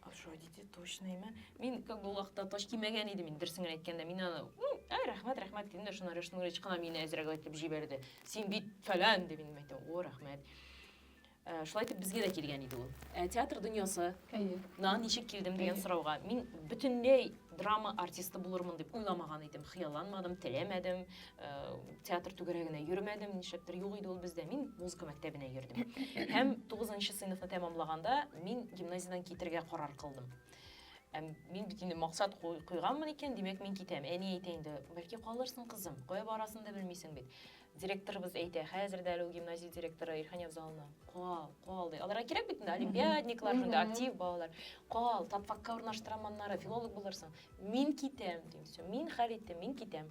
хорошо әйтте точныймы мин как бы ул вакытта тач кимәгән идем инде дөресен генә әйткәндә мин аны әй рәхмәт рәхмәт дидем дә шуннан рөстәм гүрич кына мине әзрәк итеп җибәрде син бит фәлән дип мин әйтәм о рәхмәт э, шулай итеп безгә дә килгән иде ул э, театр дөньясы на ничек килдем дигән сорауга мин бөтенләй драма артисты булырмын дип уйламаган идем хыялланмадым теләмәдем Э, театр түгәрәгенә йөрмәдем нишләптер юк иде ул бездә мин музыка мәктәбенә йөрдем һәм тугызынчы сыйныфны тәмамлаганда мин гимназиядән китергә карар кылдым ә мин бит инде максат куйганмын икән димәк мин китәм әни әйтә инде бәлки калырсың кызым кая барасын да белмисең бит директорыбыз әйтә хәзер дә әле ул гимназия директоры ирхан явзаловна кал кал ди аларга кирәк бит инде олимпиадниклар шунда актив балалар кал татфакка урнаштырам аннары филолог булырсың мин китәм дим все мин хәл иттем мин китәм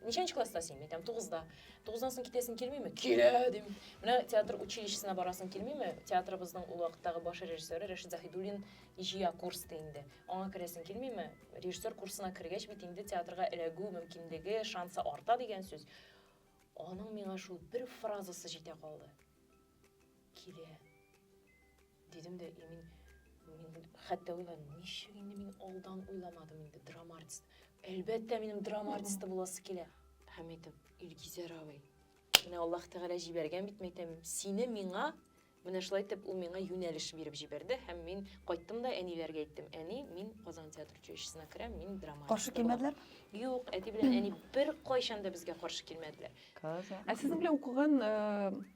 Ничәнче класста син? Мин әйтәм, тугызда. Тугыздан соң китәсең килмиме? Килә, дим. Менә театр училищесына барасың килмиме? Театрыбызның ул вакыттагы баш режиссеры Рәшит Заһидуллин җыя курс ди инде. Аңа керәсең килмиме? Режиссер курсына кергәч бит инде театрга эләгү мөмкинлеге, шансы арта дигән сүз. Аның миңа шул бер фразасы җитә калды. килә. Дидем дә, и мин, мин хәтта уйлам, ничек инде мин алдан уйламадым инде драма артисты. Әлбәттә, минем драма артисты буласы килә. Һәм әйтәм, Илгизәр абый, менә Аллаһ Тәгалә җибәргән бит, мәйтәм, сине миңа Менә шулай итеп ул миңа юнәлеш биреп җибәрде һәм мин кайттым да әниләргә әйттем. Әни, мин Казан театр училищесына керәм, мин драма. Каршы килмәделәр? Юк, әти белән әни бер кайчан да безгә каршы килмәделәр. Казан. Ә сезнең белән укыган э,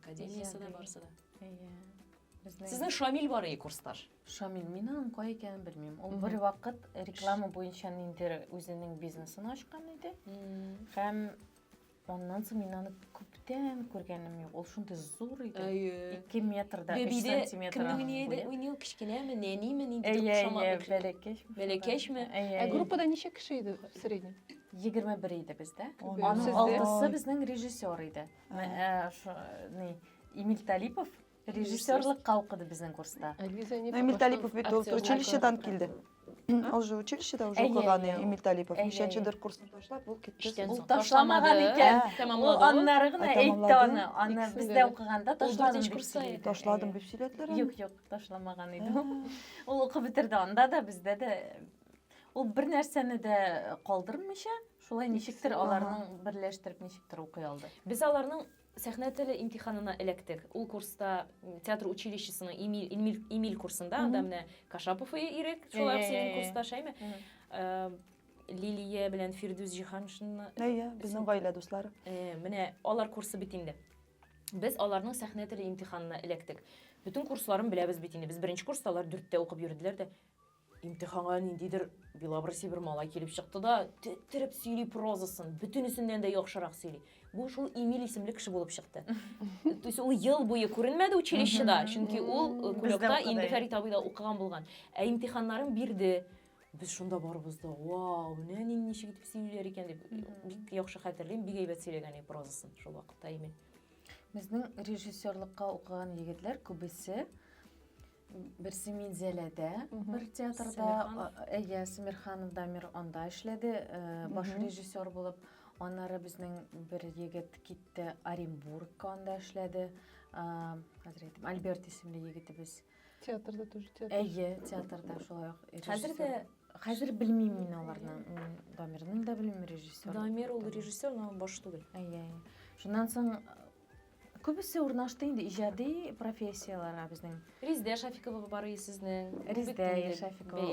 Академиясы да барсы да. Әйе. Сезнең Шамил бар и курсташ. Шамил, мин аның кай икәнен белмим. Ул бер вакыт реклама буенча ниндер үзенең бизнесын ачкан иде. Һәм Оннан соң мин аны күптән күргәнем юк. Ул шундый зур иде. Әйе. 2 метрда 3 сантиметр. Кемнең ни иде? Ул ни кечкенәме, нәниме, нинди тукшама? Әйе, бәләкәч. Бәләкәчме? Ә группада ничә кеше иде средний? 21 иде бездә. Аның алтысы безнең режиссер иде. Ә, шо, ни, Эмиль Талипов режиссерлыкка укыды безнең курста. Эмиль Талипов бит ул училищедан килде. Ул же училищеда уже укыган Эмиль Талипов. Ничәнчедер курсны ташлап, ул китте. Ул ташламаган икән. Ул аннары гына әйтте аны. Аны бездә укыганда ташладым дип сөйләде. Ташладым дип сөйләделәр. Юк, юк, ташламаган иде ул. Ул укып бетерде анда да, бездә дә. Ул бер нәрсәне дә калдырмыйча, Шулай ничектер аларның берләштереп ничектер укый алды. Без аларның сәхнә теле имтиханына эләктек. Ул курста театр училищесының Эмиль, Эмиль, Эмиль курсында, анда менә Кашапов Ирек, шулар синең курста, шәйме? Э, Лилия белән Фирдүс Җиһаншинны. Әйе, безнең гаилә дуслары. Э, менә алар курсы бит инде. Без аларның сәхнә теле имтиханына эләктек. Бөтен курсларын беләбез бит инде. Без беренче курста алар дүрттә укып йөрделәр дә. Имтиханга ниндидер белобрысый бер малай килеп чыкты да, теттереп сөйли прозасын, бөтенесеннән дә яхшырак сөйли. Бу шул Эмиль исемле кеше булып чыкты. То есть ул ел буе күренмәде училищеда, чөнки ул э, кулакта инде Фәрит абыйда укыган булган. Ә имтиханнарын бирде. Без шунда барыбыз да, вау, менә ничек итеп сөйлиләр икән дип, бик яхшы хәтерлим, бик әйбәт сөйләгән прозасын шул вакытта Эмиль. Безнең режиссерлыкка укыган егетләр күбесе Берсе Минзәләдә бер театрда, әйе, Сәмирханов Дамир анда эшләде, баш режиссер булып. Аннары безнең бер егет китте Оренбургка, анда эшләде. Хәзер әйтим, Альберт исемле егетебез. Театрда тоже театр. Әйе, театрда шулай ук. Хәзер дә Хәзер белмим мин аларны. Дамирның да белмим режиссер. Дамир ул режиссер, но баш түгел. Әйе. Шуннан соң Күбесе урнашты инде иҗади профессияләргә безнең. Резидә Шафикова бар и сезнең. Резидә Шафикова.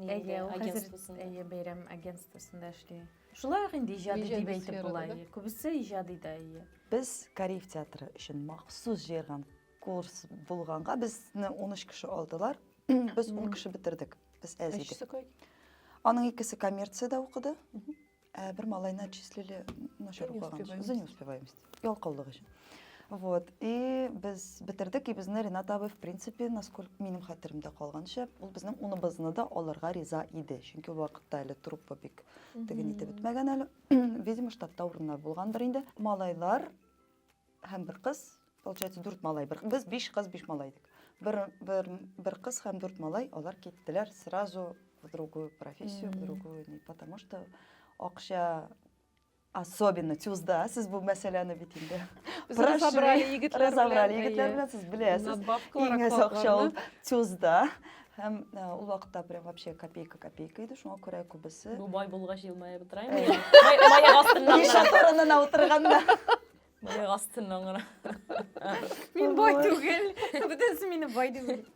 Бәйрәм агентствосын. Әйе, бәйрәм агентствосында эшли. Шулай ук инде иҗади дип әйтеп була. Күбесе иҗади да, әйе. Без Кариев театры өчен махсус җыерган курс булганга, безне унөч кеше алдылар. Без ун кеше бетердек. Без әз идек. Өчесе кай? Аның икесе коммерциядә укыды. Ә бер малайны отчислили начар укыган. За неуспеваемость. Ялкаулык өчен. Вот. И без бетердек, и безне Ренат абый, в принципе, насколько минем хәтеремдә калганча, ул безнең уныбызны да алырга риза иде. Чөнки ул вакытта әле труппа бик теген итеп бетмәгән әле. Видимо, штатта урыннар булгандыр инде. Малайлар Һәм бер кыз, получается, дүрт малай. Бер, без биш кыз, биш малай идек. Бер, бер, бер кыз һәм дүрт малай, алар киттеләр сразу в другую профессию, в другую, не, потому что акча особенно тюзда, сез бу мәсьәләне бит инде разобрали егетләр разобрали егетләр белән сез беләсез иң әз акча ул тюзда һәм э, ул вакытта прям вообще копейка копейка иде шуңа күрә күбесе бу бай булгач елмаеп утыраймы май астында ишек турынына утырганда Мыек астыннан гына. Мин бай түгел. Бүтәнсе мине бай дип уйлый.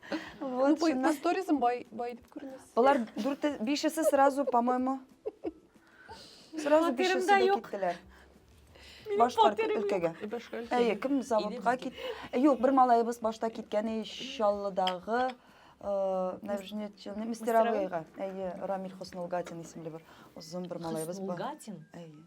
Вот, Бай- шуннан. Бу сторизм бай бай дип күренәсең. Болар дүрте, бишесе сразу, по-моему, сразу Фатирымда бишесе дә юк. киттеләр. Башкарт фатирым юк. өлкәгә. И башка өлкә. Әйе, кем заводка кит. Э, Юк, бер малаебыз башта киткән и Чаллыдагы э, нәбжнетчелне мастеровыйга. Әйе, Рамиль Хоснулгатин исемле бер озын бер малаебыз бар. Хоснулгатин. Әйе.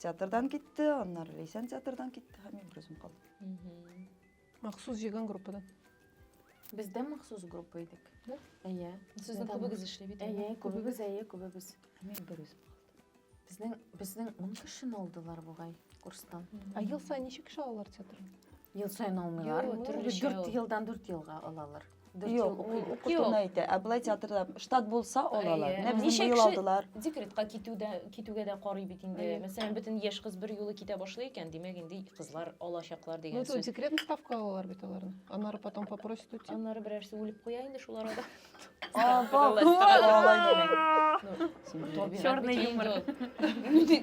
Театрдан китте, аннары Лейсән театрдан китте, һәм мин берүзем калдым. Махсус җыйган группадан. Бездә махсус группа идек. Да? Әйе. Сезнең күбегез эшли бит. Әйе, күбегез, әйе, күбегез. Мин берүзем Безнең безнең 10 кешене алдылар бугай курстан. Ә ел саен ничек кеше алалар театрга? Ел саен алмыйлар. Дүрт елдан дүрт елга алалар. Юк, укытуны әйтә. Ә былай театрда штат булса алалар. Менә безне быел алдылар. Декретка китүдә китүгә дә карый бит инде. Мәсәлән, бөтен яшь кыз бер юлы китә башлый икән, димәк инде кызлар алачаклар дигән сүз. Ну, декретный ставка алалар бит аларны. Аннары потом попросят уйти. Аннары берәрсе үлеп куя инде шул арада. Черный юмор.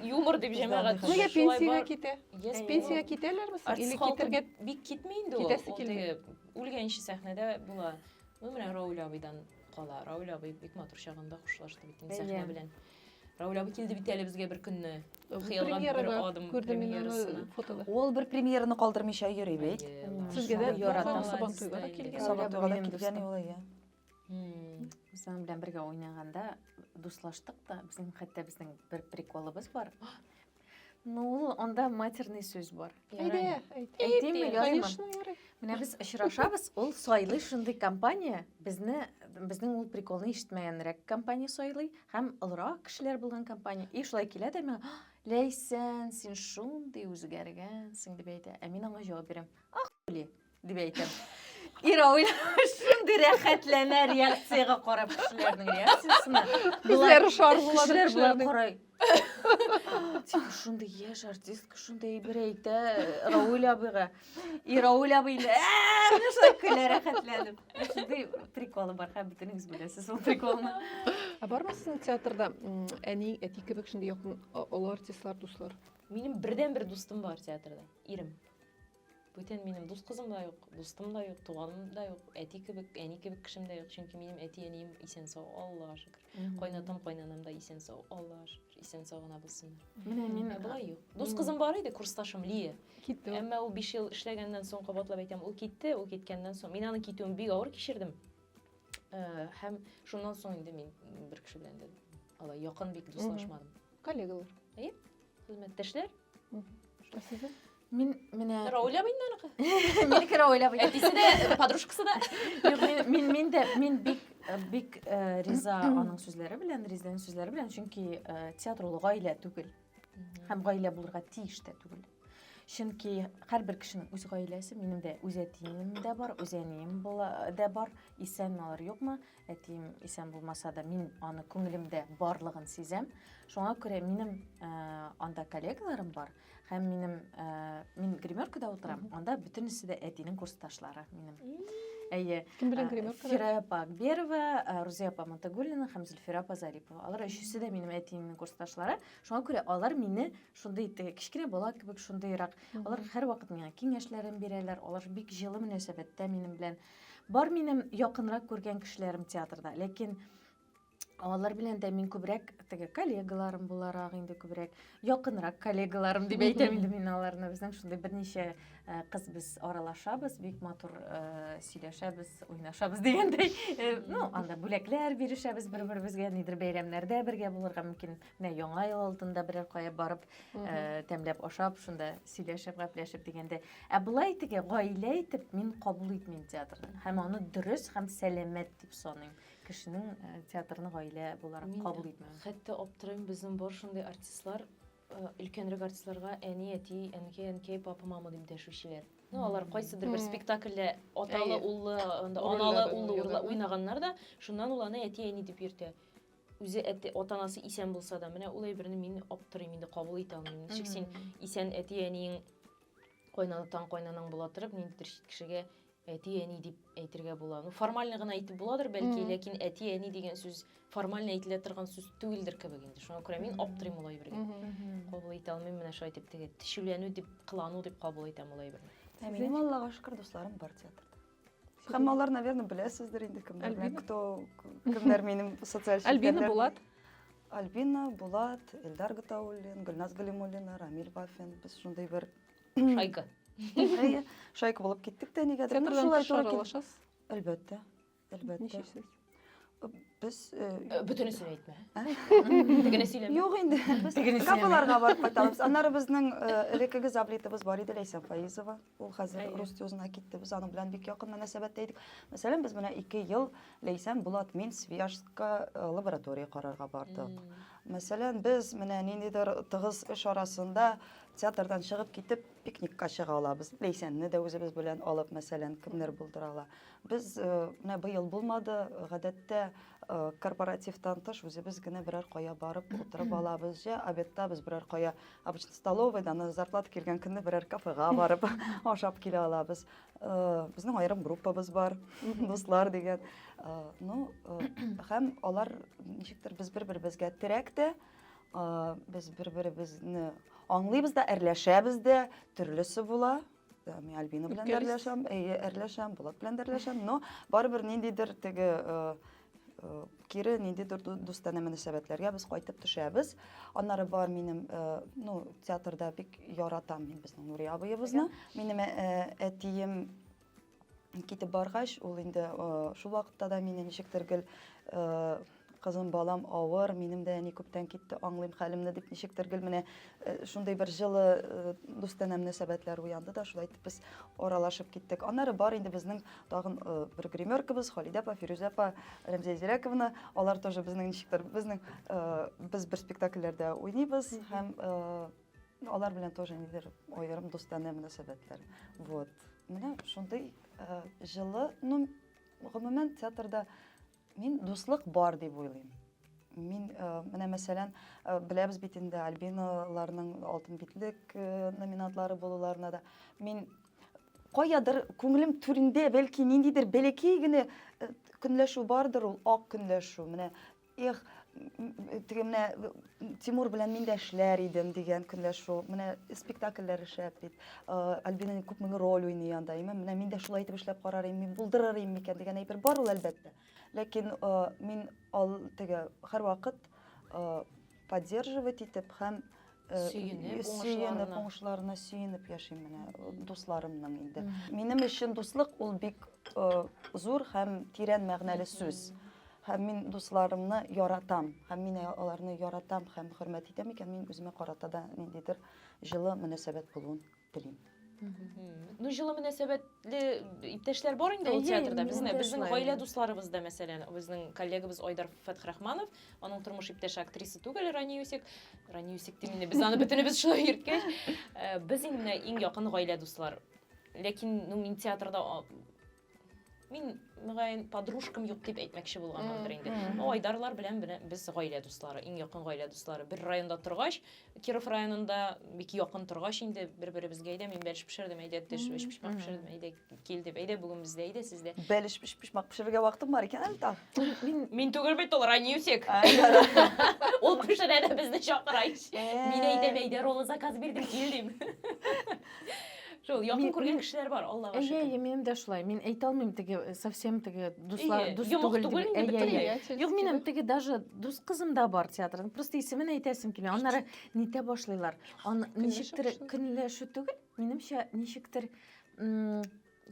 Юмор дип җәмәгать. Нигә пенсиягә китә? Пенсиягә китәләрме? Или китергә бик китми инде ул. Китәсе килми. Үлгәнче сәхнәдә була. Ну, менә Рауль абыйдан кала. Рауль абый бик матур чагында хушлашты бит инде сәхнә белән. Рауль абый килде бит әле безгә бер көнне. Хыялга бер адым премьерасына. Ул бер премьераны калдырмыйча йөри бит. Сезгә дә яратам Сабан туйга да килгән. Сабан туйга да килгән ул, иә. Үзем белән бергә уйнаганда дуслаштык та, безнең хәтта безнең бер приколыбыз бар. Ну, ул анда матерный сүз бар. Әйдә, әйт. Әйтимме, язма. Менә без очрашабыз, ул сайлый шундый компания, безне безнең ул приколны ишетмәгәнрәк компания сайлый һәм олырак кешеләр булган компания. И шулай килә дә миңа, "Ләйсән, син шундый үзгәргәнсең" дип әйтә. Ә мин аңа җавап бирәм. Ахули. Дип әйтәм. Ира уйлап шундый рәхәтләнә реакциягә карап кешеләрнең реакциясенә. Күзләре шарлыла Кешеләр болай карай. Тик шундый яшь артистка шундый әйбер әйтә Рауль абыйга. И Рауль абый инде шулай көлә рәхәтләнеп. Шундый приколы бар, хәм бөтенегез беләсез ул приколны. Ә бармы сезнең театрда әни, әти кебек шундый якын олы артистлар, дуслар? Минем бердән-бер дустым бар театрда, ирем. Бүтән минем дус кызым да юк, дустым да юк, туганым да юк, әти кебек, әни кебек кешем дә юк, чөнки минем әти-әнием исән-сау, Аллага шөкер. Кайнатам, кайнанам да исән-сау, Аллага шөкер, исән-сау гына булсыннар. Менә мин ә болай юк. Дус кызым бар иде, курсташым Лия. Китте. Әмма ул 5 ел эшләгәннән соң, кабатлап әйтәм, ул китте, ул киткәннән соң, мин аның китүен бик авыр кичердем. Э, һәм шуннан соң инде мин бер кеше белән дә алай якын бик дуслашмадым. Коллегалар. Әйе, хезмәттәшләр. Ә сездә? Мин менә Рауля Биннарга. Мин кирә уйлап идем. Әтисе дә, подружкасы да. Юк, мин- мин мин дә мин бик э, бик э, риза аның сүзләре белән, Ризләнең сүзләре белән, чөнки э, театр ул гаилә түгел һәм гаилә булырга тиеш тә түгел. Чөнки һәрбер кешенең үз гаиләсе, минем дә үз әтием дә бар, үз әнием була- дә бар, исәнме алар, юкмы, Әтием исән булмаса да, мин аны күңелемдә барлыгын сизәм. Шуңа күрә минем э, анда коллегаларым бар һәм минем э, мин гримеркада утырам. Анда бөтенесе дә әтинең курсташлары минем. Әйе. Кем белән э, гримеркада? Фира апа Акберова, э, Рузия апа Монтагулина һәм Зөлфира апа Зарипова. Алар өчесе дә минем әтиемнең курсташлары. Шуңа күрә алар мине шундый итте, кечкенә бала кебек шундыйрак. Алар һәрвакыт миңа киңәшләрен бирәләр. Алар бик җылы мөнәсәбәттә минем белән. Бар минем якынрак күргән кешеләрем театрда, ләкин алар белән дә мин күбрәк теге коллегаларым буларак инде күбрәк якынрак коллегаларым дип әйтәм инде мин аларны безнең шундый берничә э, кыз без аралашабыз бик матур э, сөйләшәбез уйнашабыз дигәндәй э, ну анда бүләкләр бирешәбез бер беребезгә нидер бәйрәмнәрдә бергә булырга мөмкин Менә яңа ел алдында берәр кая барып, э, тәмләп ашап, шунда сөйләшеп, гәпләшеп дигәндә. Ә болай теге гаилә итеп мин кабул итмим театрны. Һәм аны дөрес һәм сәламәт дип саныйм. Кешенең э, театрны гаилә буларак Мин кабул итмәү. Хәтта аптырыйм, безнең бар шундый артистлар, э, өлкәнрәк артистларга әни, әти, әнкәй, әнкәй, папа, мама дип дәшүчеләр. Ну, алар кайсыдыр бер Мгм. спектакльдә аталы, Әйе. уллы, анда Рольләр аналы, уллы уйнаган. урла- уйнаганнар да, шуннан ул аны әти, әни дип йөртә. үзе әти ата анасы исән булса да менә ул әйберне мин аптырыйм инде кабул итә алмыйм ничек син исән әти әниең кайнатаң кайнанаң була торып ниндидер чит кешегә әти әни дип әйтергә була ну формально гына әйтеп буладыр бәлки ләкин әти әни дигән сүз формально әйтелә торган сүз түгелдер кебек инде шуңа күрә мин аптырыйм ул әйбергә кабул итә алмыйм менә шулай итеп теге тешүләнү дип кылану дип кабул итәм ул әйберне ә минем аллага шөкер дусларым бар театрда Хаммалар, наверное, беләсездер инде кемнәр. Альбина? Кто, кемнәр минем социаль Альбина Булат. Альбина Булат, Эльдар Гатауллин, Гөлназ Галимуллина, Рамиль Бафин. Без шундый бер шайка. Шайка булып киттек тә нигә? Театрдан шулай туры килешәсез. Әлбәттә. Әлбәттә. Ничек сез? Без бүтәнесен әйтмә. Тегене сөйләмә. Юк инде. Без капыларга барып кайтабыз. Аннары безнең элеккеге заблитыбыз бар иде Ләйсән Фаизова. Ул хәзер рус тюзына китте. Без аның белән бик якын мөнәсәбәттә идек. Мәсәлән, без менә 2 ел Ләйсән Булат мин Свияжска лаборатория карарга бардык. Мәсәлән, без менә ниндидер тыгыз эш арасында театрдан чыгып китеп пикникка чыга алабыз. Ләйсәнне дә үзебез белән алып, мәсәлән, кемнәр булдыра ала. Ләйсән, Без, менә быел булмады, гадәттә, корпоративтан тыш үзебез генә берәр кая барып утырып алабыз. Җә обедта без берәр кая, обычно столовыйда, аны зарплата килгән көнне берәр кафега барып ашап килә алабыз. Безнең аерым группабыз бар, дуслар дигән. Ну, һәм алар ничектер без бер-беребезгә терәк тә, без бер-беребезне аңлыйбыз да, әрләшәбез дә, төрлесе була. Э, мин Альбина белән дә әрләшәм, әйе, әрләшәм, Булат белән дә әрләшәм, но барыбер ниндидер теге э, э, кире ниндидер дустана мөнәсәбәтләргә без кайтып төшәбез. Аннары бар минем, ну, театрда бик яратам мин безнең Нурия абыебызны. Минем әтием китеп баргач, ул инде шул вакытта да мине ничектер гел кызым, балам авыр, минем дә әни күптән китте, аңлыйм хәлемне дип ничектер гел менә шундый бер жылы дустанә мөнәсәбәтләр уянды да, шулай итеп без аралашып киттек. Аннары бар инде безнең тагын бер гримеркабыз, Халидә апа, Фирүзә апа, Рәмзия Зирәковна, алар тоже безнең ничектер, безнең без бер спектакльләрдә уйныйбыз һәм Алар белән тоже нидер аерым дустанә мөнәсәбәтләр. Вот. Менә шундый э, җылы, ну, гомумән театрда мин дуслык бар дип уйлыйм. Мин э, менә мәсәлән, э, беләбез бит инде Альбиналарның алтын битлек э, номинатлары булуларына да. Мин каядыр күңелем түрендә бәлки ниндидер бәләкәй генә э, көнләшү бардыр ул ак көнләшү. Менә Эх, теге менә Тимур белән мин дә эшләр идем дигән көнләр шул. Менә спектакльләр эшләп бит. Альбинаның күп мең роль уйный анда. Имә менә мин дә шулай итеп эшләп карар идем, мин булдырыр идем микән дигән әйбер бар ул әлбәттә. Ләкин мин ал теге һәрвакыт поддерживать итеп һәм сөенеп, сөенеп уңышларына сөенеп яшим менә дусларымның инде. Минем өчен дуслык ул бик зур һәм тирән мәгънәле сүз. Һәм мин дусларымны яратам, һәм мин аларны яратам һәм хөрмәт итәм икән, мин үземә карата да ниндидер җылы мөнәсәбәт булуын телим. Ну, җылы мөнәсәбәтле иптәшләр бар инде ул театрда. Безне, безнең гаилә дусларыбыз да, мәсәлән, безнең коллегабыз Айдар Фәтхрахманов, аның тормыш иптәше актриса түгел, Рани Юсик. Рани Юсик дим инде, без аны бөтенебез шулай йөрткәч. Э, без инде иң якын гаилә дуслар. Ләкин, ну, мин театрда мин мөгаен подружкам юк дип әйтмәкче булганмындыр инде ну айдарлар белән без гаилә дуслары иң якын гаилә дуслары бер районда торгач киров районында бик якын торгач инде бер беребезгә әйдә мин бәлеш пешердем әйдә төш бәлеш пешмәк пешердем әйдә кил дип әйдә бүген бездә әйдә сездә бәлеш пешмәк пешерергә вакытым бар икән әле там мин мин түгел бит ул ранюсик ул пешерә дә безне чакыра ич мин әйтәм әйдә роллы заказ бирдем кил дим Шул, якын күргән кешеләр бар, Аллага шөкер. Әйе, минем дә шулай. Мин әйтә алмыйм теге э, совсем теге дуслар, дус түгел дип. Әйе, әйе. Юк, минем теге даже дус кызым да бар театрның. Просто исемен әйтәсем килми. Аннары нитә башлыйлар. Аны ничектер көнләшү түгел, минемчә ничектер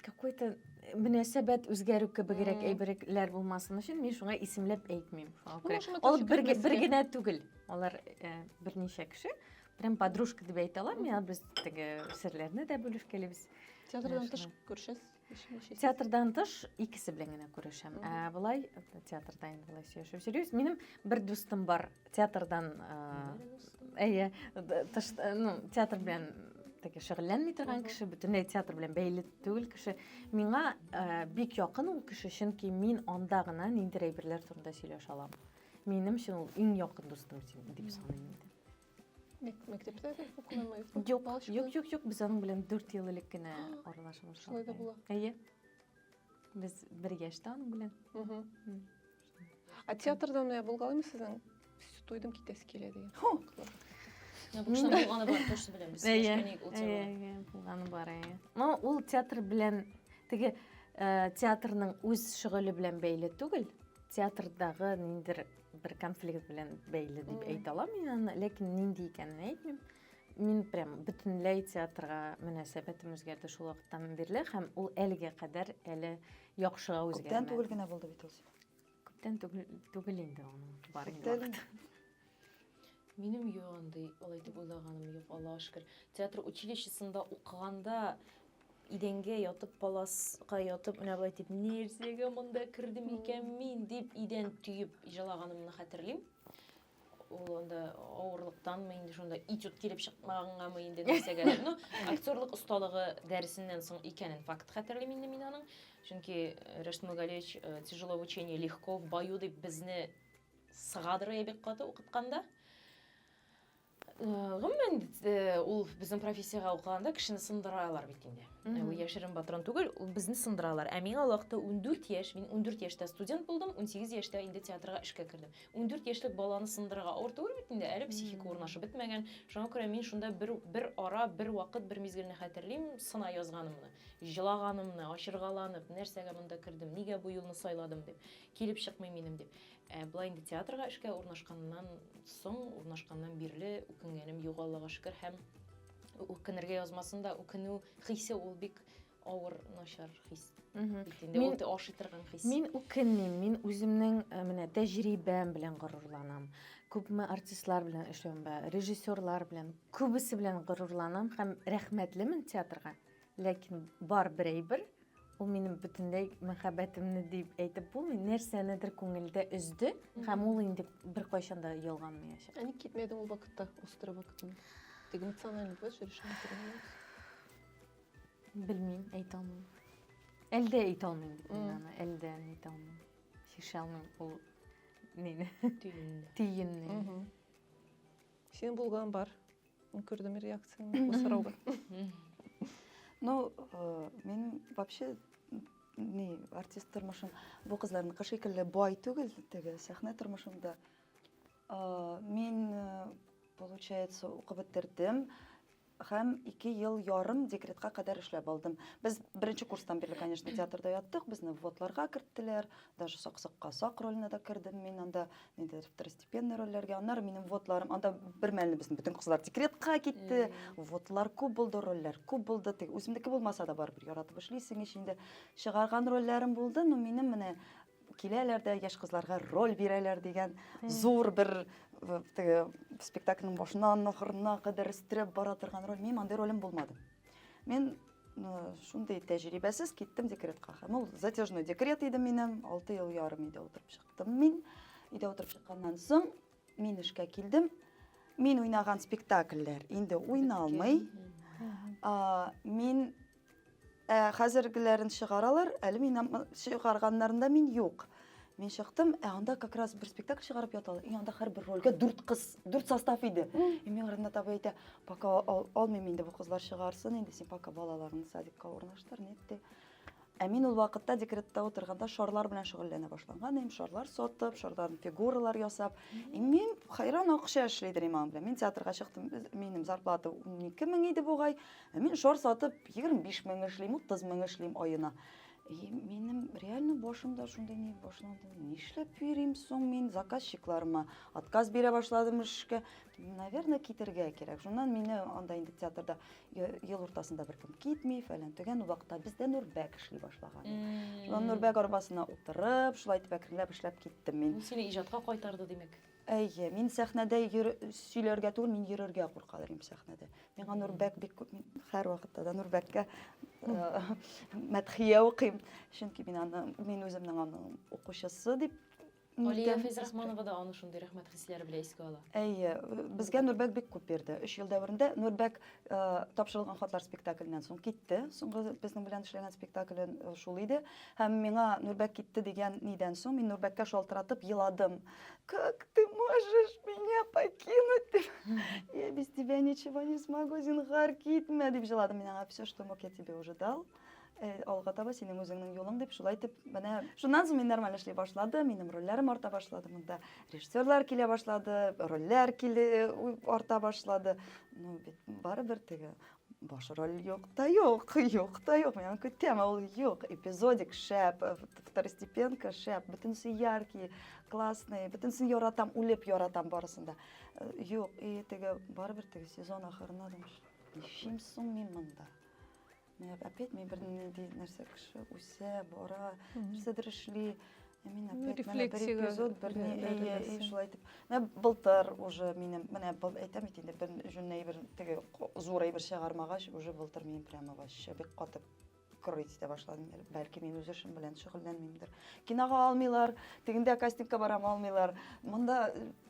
какой-то мөнәсәбәт үзгәрү кебегрәк әйберләр булмасын өчен мин шуңа исемләп әйтмим. Ул бер генә түгел. Алар э, берничә кеше. Прям подружка дип әйтә алам. Миңа без теге серләрне дә бүлешкәлибез. Театрдан тыш күрешәсез? Театрдан тыш икесе белән генә күрешәм. Ә болай театрда инде болай сөйләшеп йөрибез. Минем бер дустым бар, Театрдан, әйе, тыш, ну, театр белән теге шөгыльләнми торган кеше, бөтенләй театр белән бәйле түгел кеше. Миңа э, бик якын ул кеше, чөнки мин анда гына ниндидер әйберләр турында сөйләшә алам. Минем өчен ул иң якын дустым дип саныйм инде. Мәктәптә дә укыганмыгыз? Юк, юк, юк, юк, без аның белән 4 ел элек кенә аралашып башладык. Шулай да була. Әйе. Без бер яшьтә аның белән. А театрда менә булгалыймы сезнең? Туйдым китәсе килә дигән. Бушан булганы бар, точно беләм. Без сөйләшкәнек ул теманы. Булганы бар, әйе. Но ул театр белән теге э, театрның үз шөгыле белән бәйле түгел. Театрдагы ниндер бер конфликт белән бәйле дип әйтә алам мин аны, ләкин нинди икәнен әйтмим. Мин прям бөтенләй театрга мөнәсәбәтем үзгәрде шул вакыттан бирле һәм ул әлегә кадәр әле яхшыга үзгәрмәде. Күптән түгел генә булды бит ул. Күптән түгел инде аның бар инде. Минем юк андый, алай дип уйлаганым юк, Аллага шөкер. Театр училищесында укыганда идәнгә ятып, паласка ятып, менә болай дип, нәрсәгә монда кердем икән мин дип идән төеп җалаганымны хәтерлим. ул анда авырлыктанмы инде шунда этюд килеп чыкмагангамы инде нәрсәгә ну актерлык осталыгы дәресеннән соң икәнен факт хәтерлим инде мин аның чөнки э, Рәшт Мөгалевич э, тяжело в учении легко в бою дип безне сыгадырыя бик каты укытканда э, гомумән ул безнең профессиягә укыганда кешене сындыралар бит инде ул яшерен патрон түгел ул безне сындыралар ә миңа вакытта 14 яшь мин 14 яшьтә студент булдым 18 яшьтә инде театрга эшкә кердем Ундүрт яшьлек баланы сындырырга авыр түгел бит инде, әле психика урнашып бетмәгән. Шуңа күрә мин шунда бер, бер ара, бер вакыт, бер мизгелне хәтерлим, сына язганымны, җылаганымны, ачыргаланып, нәрсәгә монда кердем, нигә бу юлны сайладым дип, килеп чыкмый минем дип. Ә болай инде театрга эшкә урнашканнан соң, урнашканнан бирле үкенгәнем юк, Аллага шөкер, һәм үкенергә язмасын да, үкенү хисе ул бик авыр начар хис бит инде ул ашый торган хис мин үкенмим мин үземнең э, менә тәҗрибәм белән горурланам күпме артистлар белән эшләвем бар режиссерлар белән күбесе белән горурланам һәм рәхмәтлемен театрга ләкин бар бер әйбер ул минем бөтенләй мәхәббәтемне дип әйтеп булмый нәрсәнедер күңелдә өзде һәм ул инде беркайчан да ялганмаячак ә ник китмәдең ул вакытта острый вакытында ты эмоционально плачешь решила Белмим, әйтә алмыйм. Әлдә әйтә алмыйм бит мин аны, әлдә әйтә алмыйм. Чишә алмыйм ул нени? Тиенне. Тиенне. Син булган бар. Күрдем реакцияңне бу сорауга. Ну, э, мин вообще ни артист тормышым бу кызларныкы шикелле бай түгел теге сәхнә тормышымда мин э, получается укып бетердем Һәм ике ел ярым декретка кадәр эшләп алдым. Без беренче курстан бирле, конечно, театрда яттык, безне вводларга керттеләр, даже Саксыкка Сак роленә дә кердем мин анда, ниндидер второстепенный рольләргә. Аннары минем вводларым, анда бер мәлне безнең бөтен кызлар декретка китте, вводлар күп булды, рольләр күп булды, теге үземнеке булмаса да барыбер яратып эшлисең ич инде. Чыгарган рольләрем булды, но минем менә киләләр дә яшь кызларга роль бирәләр дигән зур бер теге спектакльнең башыннан ахырына кадәр өстерәп бара торган роль мин андый ролем булмады мин шундый тәҗрибәсез киттем декретка һәм ул затяжной декрет иде минем алты ел ярым өйдә утырып чыктым мин өйдә утырып чыкканнан соң Мин эшкә килдем. Мин уйнаган спектакльләр инде уйналмый. Мин ә, хәзергеләрен чыгаралар, әле мин чыгарганнарында мин юк. Мин чыктым, ә анда как раз бер спектакль чыгарып яталар. И анда һәрбер рольгә дүрт кыз, дүрт состав иде. И миңа Ренат абый әйтә, пока алмыйм инде бу кызлар чыгарсын инде, син пока балаларыңны садикка урнаштыр, нит ди. Ә мин ул вакытта декретта утырганда шарлар белән шөгыльләнә башлаган идем. Шарлар сатып, шарлардан фигуралар ясап. И мин хайран акча эшли идем аның белән. Мин театрга чыктым, минем зарплата 12 мең иде бугай. Ә мин шар сатып 25 мең эшлим, 30 мең эшлим аена. И минем реально башымда шундый ни башланды. Нишләп йөрим соң мин заказчикларыма? Отказ бирә башладым эшкә. Наверное, китергә кирәк. Шуннан мине анда инде театрда Ел уртасында бер кем китми, фәлән төгән ул вакытта бездә Нурбәк эшли башлаган. Шуннан Нурбәк арбасына утырып, шулай итеп әкренләп эшләп киттем мин. Бу сине иҗатка кайтарды, димәк. Әйе, мин сәхнәдә йөр, сөйләргә түгел, мин йөрергә куркалар идем сәхнәдә. Миңа Нурбәк бик күп, мин һәр вакытта да Нурбәккә мәдхия укыйм. Чөнки мин аны, мин үземнең аның укучысы дип Алия Фәйзрахманова да аны шундый рәхмәт хисләре белән искә ала. Әйе, безгә Нурбәк бик күп бирде. 3 ел дәверендә Нурбәк э, тапшырылган хатлар спектакльнән соң китте. Соңгы безнең белән эшләгән спектакле э, шул иде. Һәм миңа Нурбәк китте дигән нидән соң мин Нурбәккә шалтыратып еладым. Как ты можешь меня покинуть? Я без тебя ничего не смогу, зинхар китмә дип җыладым. Мин аңа все, что мог, я тебе уже дал. Э, алга таба синең үзеңнең юлың дип шулай итеп менә шуннан соң мин нормаль эшли башлады минем рольләрем арта башлады монда режиссерлар килә башлады рольләр киле э, арта башлады ну бит барыбер теге баш роль юк та юк юк та юк мен көтәм ул юк эпизодик шәп э, второстепенка шәп бөтенесе яркий классный бөтенесен яратам үлеп яратам барысын да юк и теге барыбер теге сезон ахырына ничем соң мин монда Менә опять мин бер нинди нәрсә кеше үсә, бара, нәрсәдер эшли. Ә мин ну, опять менә бер эпизод, бер ни, әйе, и шулай итеп. Менә былтыр уже минем, менә был әйтәм бит инде, бер җүн әйбер, теге зур әйбер чыгармагач, уже былтыр мин прямо вообще бик катып крыть итә башладым. Бәлки мин үз эшем белән шөгыльләнмимдер. Кинога алмыйлар, тегендә кастингка барам алмыйлар. Монда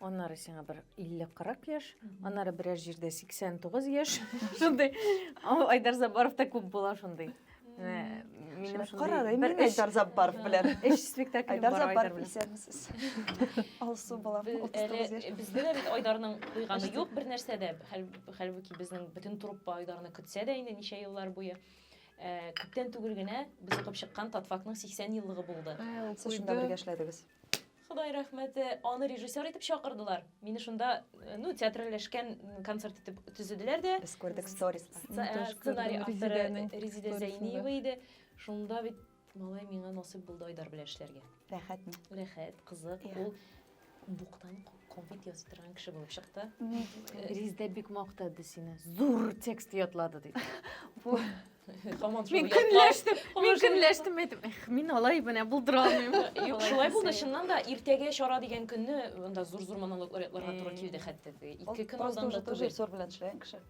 Аннары сиңа бер 50-40 яшь, аннары берәр җирдә 89 яшь. Шундый. Айдар Забаров та күп була шундый. Менә минем шундый. Кара, мин Айдар Забаров белән. Эш спектакль Айдар Забаров исәнмесез. Алсу була. 39 яшь. Бездә дә бит Айдарның куйганы юк бер нәрсә дә. Хәлбуки безнең бөтен труппа Айдарны көтсә дә инде ничә еллар буе. Күптән түгел генә без укып чыккан Татфакның 80 еллыгы булды. Сез шунда бергә эшләдегез. Ходай рәхмәте, аны режиссер итеп чакырдылар. Мине шунда, э, ну, театральләшкән концерт итеп төзеделәр дә. Без күрдек сторис. Э, сценарий авторы Резидә Зәйниева иде. Шунда бит малай миңа насыйп булды Айдар белән эшләргә. Рәхәтме? Рәхәт, кызык. Ул буктан конфет ясый торган кеше булып чыкты. Резидә бик мактады сине. Зур текст ятлады диде. Хаман Мин шул көнләштем, мин Хаман шул көнләштем әйтеп. Эх, мин алай менә булдыра алмыйм. Юк, шулай булды, чыннан да иртәгә чара дигән көнне монда зур-зур монологлар ятларга туры килде хәтта. Ике көн Просто алдан уже да тоже түгел. сор белән эшләгән кеше.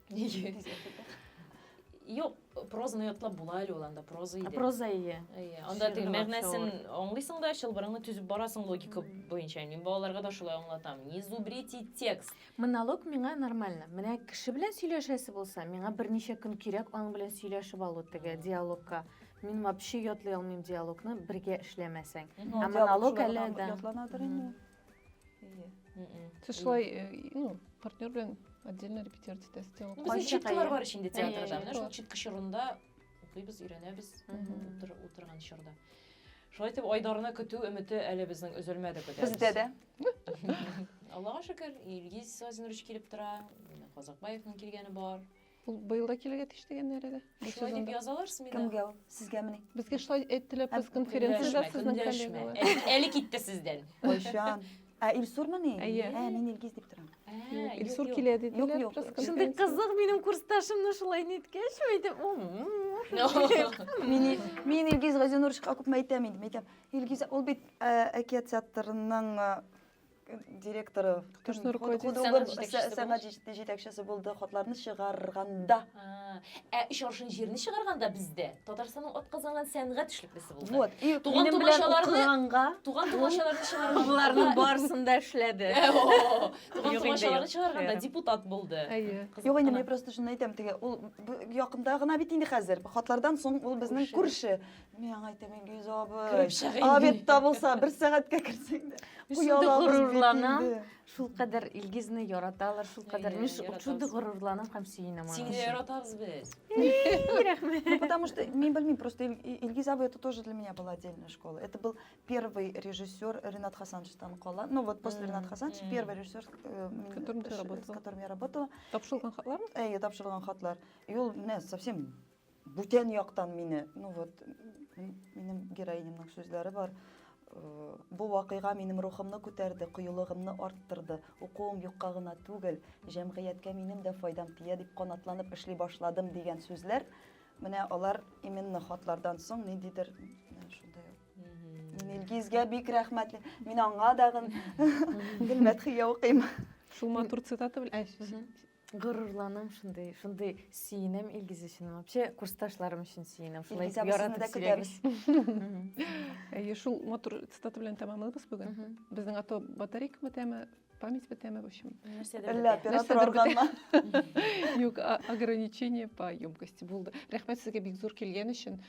Юк, прозаны ятлап була әле ул анда, проза иде. Проза ие. Әйе, анда теге Шигырь мәгънәсен акчалар. аңлыйсың да, чылбырыңны төзеп барасың логика буенча. Мин балаларга да шулай аңлатам. Не зубрите текст. Монолог миңа нормально. Менә кеше белән сөйләшәсе булса, миңа берничә көн кирәк аның белән сөйләшеп алу теге диалогка. Мин вообще ятлый алмыйм диалогны, бергә эшләмәсәң. Ә монолог әле дә. Ятланадыр инде ул. Сез шулай, э, ну, партнер белән отдельно репетировать итәсез диалог. Безнең читкалар бар инде театрда. Менә шул читка чорында укыйбыз, өйрәнәбез утырган чорда. Шулай итеп Айдарны көтү өмете әле безнең өзелмәде көтәбез. Бездә дә. Аллага шөкер, Илгиз Владимирович килеп тора, Казакбаевның килгәне бар. Ул быел да килергә тиеш дигәннәр әле. Шулай дип язалар СМИда. Кемгә ул? Сезгәмени? Безгә шулай әйттеләр пресс-конференцияда сезнең коллегалар. Әле китте сездән. Кайчан? Ә Илсурмыни? Әйе. Ә, мин Илгиз дип торам. Илсур килә диделәр пресс-конференцияда. Шундый кызык минем курсташымны шулай ниткәч, әйтеп, мин Илгиз Газинуровичка күпме әйтәм инде, әйтәм. Илгизә, ул бит әкият театрының директоры сәнгать җитәкчесе булды хатларны чыгарганда ә өч аршын җирне чыгарганда бездә татарстанның атказанган сәнгать эшлеклесе булды вот и туган тумачаларны туган тумачаларны чыгарган боларның барысында эшләде туган тумачаларны чыгарганда депутат булды юк инде мен просто шуны әйтәм теге ул якында гына бит инде хәзер хатлардан соң ул безнең күрше Мин аңа әйтәм, Илгиз абый. Кереп чыгыйм. Обедта булса, бер сәгатькә керсәң дә. Шундый горурланам. Шул кадәр Илгизне яраталар, шул кадәр мин шундый горурланам һәм сөенәм аңа. Сине яратабыз без. Рәхмәт. Ну потому что мин белмим, просто Илгиз абый это тоже для меня была отдельная школа. Это был первый режиссер Ренат Хасанович Танкола. Ну вот после Ренат Хасанович первый режиссер, э, с которым я работала. Тапшырылган хатлар? Э, тапшырылган хатлар. И ул менә совсем Бүтән яктан мине, ну вот, минем героинямның сүзләре бар. Э, бу вакыйга минем рухымны күтәрде, кыюлыгымны арттырды. Укуым юкка гына түгел, җәмгыятькә минем дә файдам тия дип канатланып эшли башладым дигән сүзләр. Менә алар именно хатлардан соң ниндидер шундай Илгизгә бик рәхмәтле. Мин аңа дагын гел мәдхия укыйм. Шул матур цитата белән Горурланам шундый, шундый сөенәм Илгиз өчен. Вообще курсташларым өчен сөенәм. Шулай Илгиз абысыны да көтәбез. Әйе, шул матур цитата белән тәмамлыйбыз бүген. Безнең ато батарейка бетәме, память бетәме, в общем. Әллә оператор органна. Юк, ограничение по емкости булды. Рәхмәт сезгә бик зур килгән өчен.